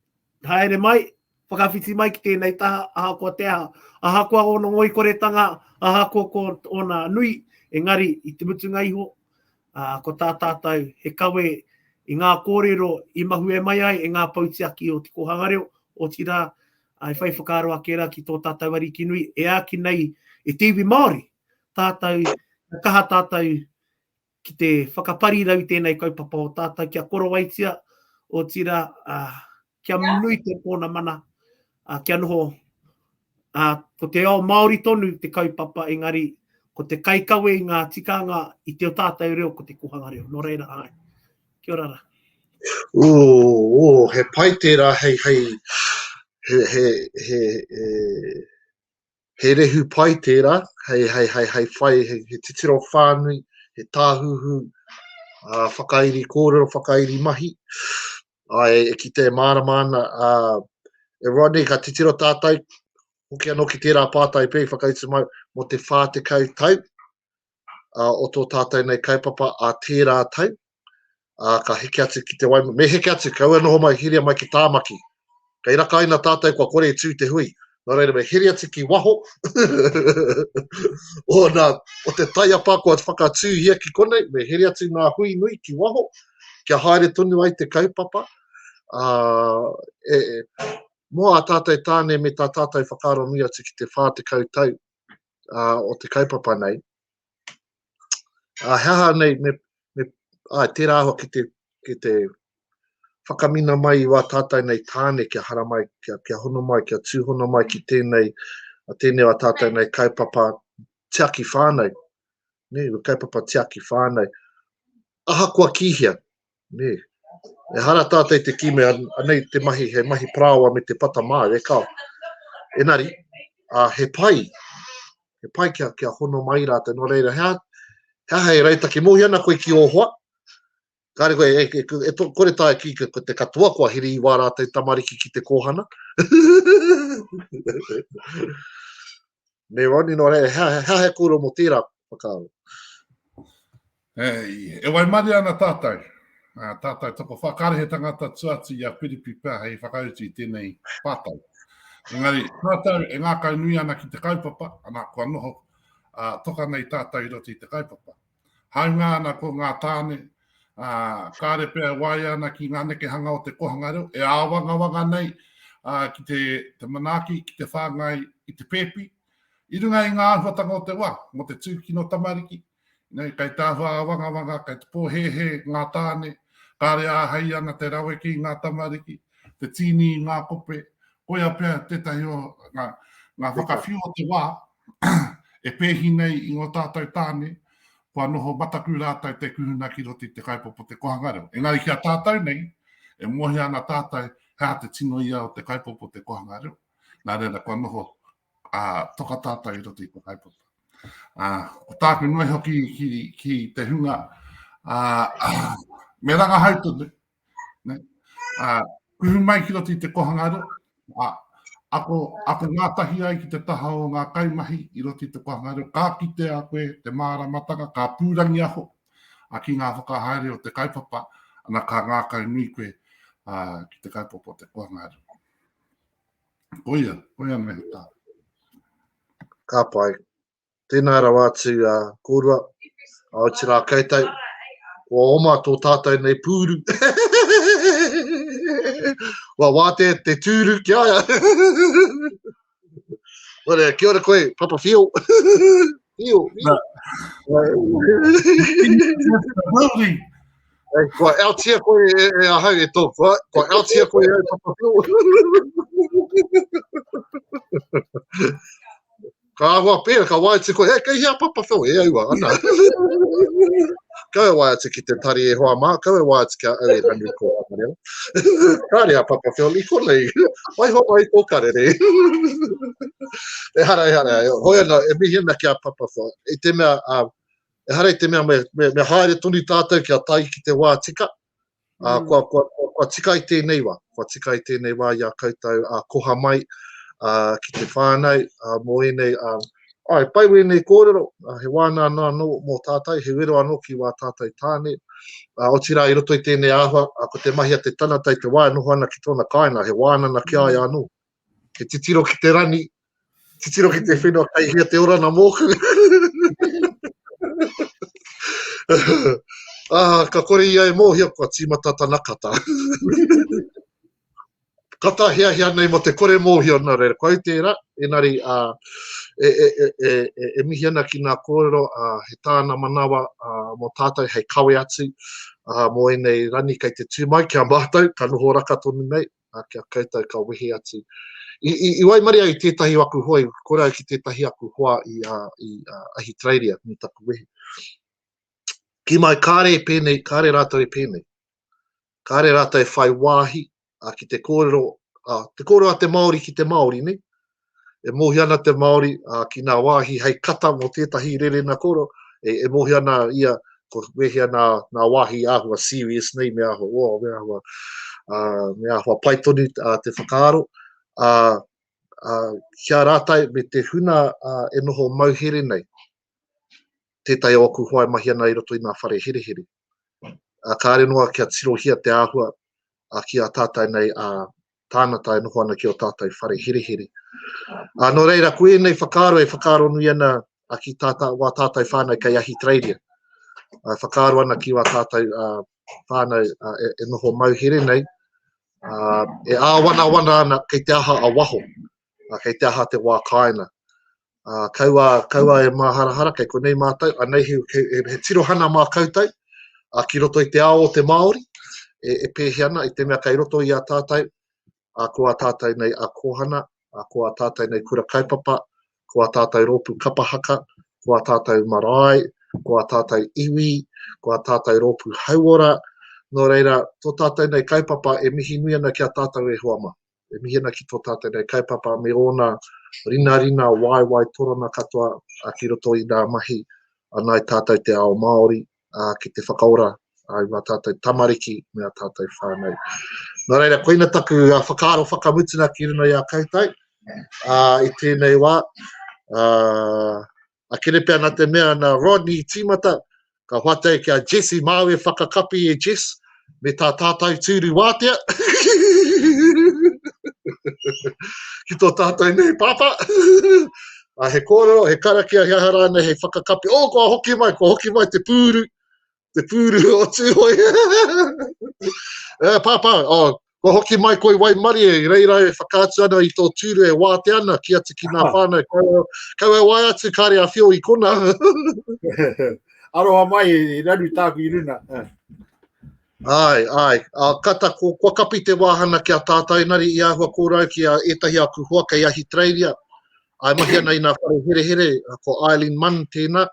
Haere mai, whakawhiti mai ki tēnei taha, ahakoa te aha, ahakoa ōna ngoikoretanga, ahakoa ko ōna nui, engari i te mutunga iho, uh, ko tā tātou he kawe i ngā kōrero i mahue mai ai e ngā pautiaki o te kōhanga reo, o tira, ai whai whakaaro ake ra ki tō tātou ariki nui, e āki nei e te iwi Māori, tātou, kaha tātou Ki te whakaparirau tēnei kaupapa o tātou kia korowaitia, otirā, kia nui te pōna mana, kia noho, ko te ao Māori tonu te kaupapa, engari ko te kaikawe i ngā tikanga i te o tātou reo ko te kōhanga reo. Nō reira, āe. Kia ora rā. Ō, ō, he pai tērā hei, hei, he, he, he, he, He rehu pai tērā, hei whai, he titiro whānui, he tāhuhu whakairi kōrero, whakairi mahi. Ae, e kite e mārama ana, e Rodney, ka titiro tātai, hoki anō ki tērā pātai pei whakaitimau, mō te 40 tau, uh, o tō tātou nei kaupapa a tērā tau, uh, ka heke atu ki te waima, me heke atu, kaua noho mai, hiria mai ki Tāmaki. Kei rakaina tātou kua kore e tū te hui, Nō reira, me hiri atu ki waho. o, nā, o te taiapa kua whakatūhia ki konei, me hiri atu ngā hui nui ki waho, kia haere tonu ai te kaupapa. Uh, e, e, mō a tātou tāne me tā tātou whakaaro nui atu ki te 40 tau uh, o te kaupapa nei. Uh, he aha nei, me, me, uh, tērā hoa ki te, ki te whakamina mai i wā tātai nei tāne kia hara mai, kia, kia hono mai, kia tūhono mai ki tēnei, a tēnei wā tātai nei kaupapa tiaki whānau, ne, kaupapa tiaki whānau. Ahakoa ki hea, Nē. Ehara tātou te kī mea, anei te mahi, he mahi parāoa me te pata māu, e kao. Engari, ā, he pai, he pai kia, kia hono mai rātou. Nō reira, he aha, he aha e rautaki? Mōhio ana koe ki ō hoa, kāre koe, e, e, e, e kore tāu ki ko te katoa, kua hiri i wā rātou tamariki ki te kōhana. Me Rodney nō rei, hea, hea, hea he kōrero mō tērā whakaaro? Hei, e wai mare ana tātou? Uh, tātou toko whakare he tangata tu atu i a Piripi pia hei whakautu i tēnei pātai. Engari, tātou e ngākau nui ana ki te kaupapa, ana kua noho uh, toka nei tātou i roto i te kaupapa. Hāunga ana ko ngā tāne, ā, kāre pea e waia ana ki ngā nekehanga o te kōhanga reo, e āwangawanga nei ā, ki te, te manaaki, ki te whāngai i te pēpi, i runga i ngā āhuatanga o te wā, mō te tūkino tamariki, nei, kei te āhua āwangawanga, kei te pōhēhē ngā tāne, kāre āhei ana te raweke i ngā tamariki, te tīni i ngā kope, koia pea tētahi o ngā, ngā whakawhiu o te wā, E pēhi nei i ngō tātou tāne, kua noho mataku rātou te kuhuna ki roto i te kaupapa o te kōhanga reo. Engari ki a tātou nei, e mōhio ana tātou he aha te tino ia o te kaupapa o te kōhanga reo, nā reira kua noho toka tātou i roto i te kaupapa. Ko tāku noe hoki ki te hunga, me rangahau tonu, Ne? Uh, kuhu mai ki roto i te kohangairo, uh, ako, ako ngātahi ai ki te taha o ngā kaimahi i roto i te kohangairo, ka kite a koe te māramatanga, ka pūrangi aho a ki ngā whakahaere o te kaupapa, ana ka ngākau nui koe uh, ki te kaupapa o te kohangairo. Koia, koia nei tā. Ka pai. Tēnā rawa atu a kōrua, Aotearā koutou, kua oma tō tātou nei pūru. Kua wātea te tūru ki aia. Whareā, kia ora koe, Papa Whio. Whio, whio. Hey, kua outia koe e, e ahau e tō kua, kua outia koe e au papapio. Ka ahua pēra, ka wae atu koe, e, kei hea papa wheo, e aua, ana. kau e wae atu ki te tari e hoa mā, kau e wae atu ki a au e ranu ko Amarela. Kāre a papa wheo, i konei, wai hoa mai tō karere. ehara, ehara, e, hoi ana, e mihi ana ki a papa wheo, i te mea, uh, ehara i te mea me, me, me haere tonu tātou ki a tai ki te wā tika, Ā, mm. kua, kua, kua, kua tika i tēnei wā, kua tika i tēnei wā i a koutou a koha mai a, ki te whānau a, mō ēnei a, ai, pai wēnei kōrero, a, he wāna anō anō mō tātou, he wero anō ki wā tātou tāne, a, otirā i roto i tēnei āhua, a, ko te mahi a te tanata i te wā e noho ana ki tōna kāinga, he wānana ki ai mm. anō, He titiro ki te rani, titiro ki te whenua kai hea te orana mōku. ah, ka kore ia e mōhia kua tīmata tana kata. kata hea hea nei mo te kore mōhio nā reira. Kua ute era, enari a, e, e, e, e, e, e mihi ana ki nā kōrero a, he tāna manawa a, mō tātou hei kawe atu a, mō enei rani kei te tū mai ki a mātou, ka noho raka tonu nei, ā, kia koutou ka wehe atu. I, i, i waimarie au i tētahi o aku hoa, i kore au ki tētahi aku hoa i, ā, i ā, Ahitereiria, me taku wehi. Ki mai, kāre e pēnei, kāre rātou e pēnei. Kāre rātou e whai wāhi ā, ki te kōrero, ā, te kōrero a te Māori ki te Māori, nei? E mōhio ana te Māori ki ngā wāhi hei kata mō tētahi rerena koro, e mōhio ana ia ko wēhea ngā wāhi e āhua serious nei, me āhua, oh, me āhua, me āhua pai tonu te whakaaro. Kia rātai me te huna e noho mauhere nei, tētahi o aku hoa e mahi ana i roto i ngā whare herehere. Kāre noa kia tirohia te āhua ki a tātai nei a tāngata e noho ana ki o tātai whare herehere. Nō reira, ko ēnei whakaaro e whakaaro nui ana ki tātai, wā tātai whānau kei Ahitereiria. Whakaaro ana ki wā tātai whānau e, e noho mauhere nei, e āwanawana ana kei te aha a waho. uh, kei te aha te wā kāina. Uh, kaua, kaua e māharahara, kei konei mātou, anei he, he, he, he tirohana mā koutou, uh, ki roto i te ao o te Māori, e, e pēhi ana, i te mea kei roto i a tātou, a ko a tātou nei a kōhana, a ko a tātou nei kura kaupapa, ko a tātou rōpū kapahaka, ko a tātou marae, ko a tātou iwi, ko a tātou rōpū hauora, nō reira, tō tātou nei kaupapa e mihi nui ana ki a tātou e hoa mā. e mihi ana ki tō tātou nei kaupapa me ōna rinarina waewae torona katoa ki roto i nā mahi a nāi tātou te ao Māori ki te whakaora i ngā tātou tamariki me a tātou whānau. Nā reira, koina taku whakaaro whakamutunga ki runa i a koutou i tēnei wā. a Kerepea na te mea na Rodney i timata ka whatai ki a Jesse mau e whakakapi e Jess me ta tatou tūru wātea ki to tatou nei papa a he korero he karakia he aha ranei hei whakakapi oh kua hoki mai kua hoki mai te pūru Te pūru o Tūhoe. e, pāpā, oh, ko hoki mai koi waimarie, i reira e whakaatu ana i tō tūru e wāte ana ki atu ki nā whānau. Kau, kau e wai atu kāre a whio i kona. Aroha mai, i raru tāku i runa. Ai, ai. A, kata, ko, kua kapi te wāhana ki a tātainari i āhua kōrau ki a etahi aku hoa kei Ahitereiria. I mahi ana i nga whare herehere, ko Eileen Munn tēna,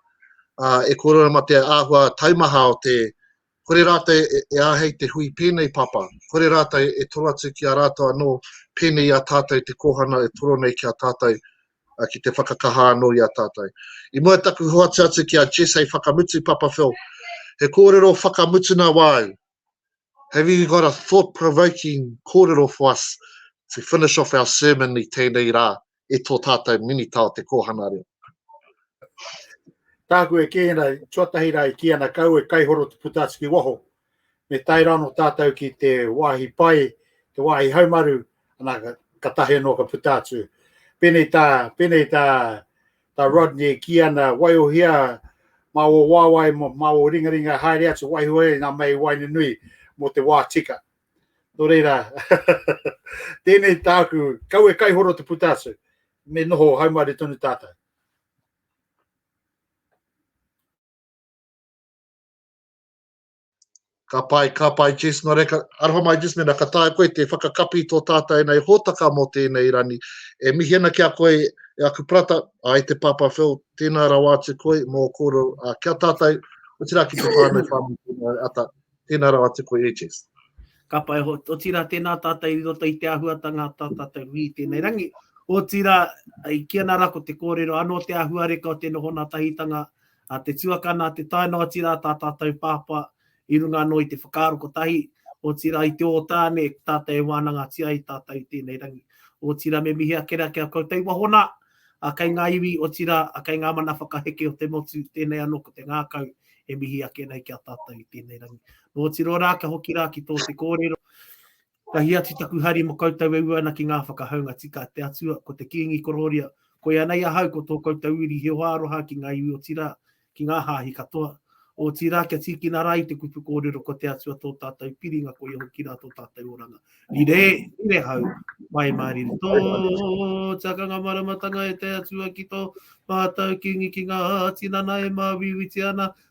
e kōrero ma te āhua taumaha o te, kore rātou e āhei te hui pēnei papa, kore rātou e toro atu ki a rātou anō, pēnei i a tātou te kōhana e toro nei ki a tātou, ki te whakakaha anō i a tātou. I mua i taku hoatu atu ki a Jess hei whakamutu, Papa Phil, he kōrero whakamutuna wāu, Have you got a thought provoking kōrero for us to finish off our sermon i tēnei rā e tō tātou Minita o te Kōhanga Reo? Tāku e kī ana, tuatahi rā e kī ana kau e kaihoro te puta atu ki waho. Me tae rā no tātou ki te wāhi pai, te wāhi haumaru, ana ka tahi anō ka puta atu. Pēnei tā, pēnei tā Ta Rodney e ki ana, Waiohia ma o wawae ma o ringaringa haere atu waiho e nga mei waina nui mo te wa tika. No reira, tenei taku, kaue kaihoro te puta atu, me noho haumaru tonu tatou. Ka pai, ka pai Jess, nō reira, aroha mai Jess, mēnā ka taea koe te whakakapi tō tātau ēnei hōtaka mō tēnei rani. E mihi ana ki a koe e aku prata, ai te Pāpā Phil, tēnā rawa atu koe mō kōrero ki a tātau, otirā ki te whānau whānui tēnā ata, tēnā rawa atu koe e Jess. Ka pai, otirā tēnā tātau i roto i te āhuatanga a tā tātau hui i tēnei rangi, otirā, i kī ana rā ko te kōrero anō te āhuareka o te noho nā tahitanga A te tuakana, te tae noa ati rā tā tātou pāpā i runga anō i te whakaaro kotahi, otirā i te ōtāne e tātou e wānangatia ai tātou i tēnei rangi. Otirā me mihi ake rā ki a koutou wahona, a kei ngā iwi, otirā, a kei ngā mana whakaheke o te motu, tēnei anō ko te ngākau e mihi ake nei ki a tātou i tēnei rangi. Nō Tirorā, ka hoki rā ki tō te kōrero, Tahi atu taku hari mo koutou e ua ana ki nga whakahaunga tika a te Atua, ko te kingi kororia, koia nei ahau ko to koutou uri he hoa aroha ki nga iwi otira ki nga hahi katoa, otira kia tikina ra i te kupu korero ko te Atua to tatou piringa koia hoki ra to tatou oranga. Rire, rire hau, mai ma riri to te akanga maramatanga e te Atua ki to matou kingi ki nga tinana e mawiwiti ana,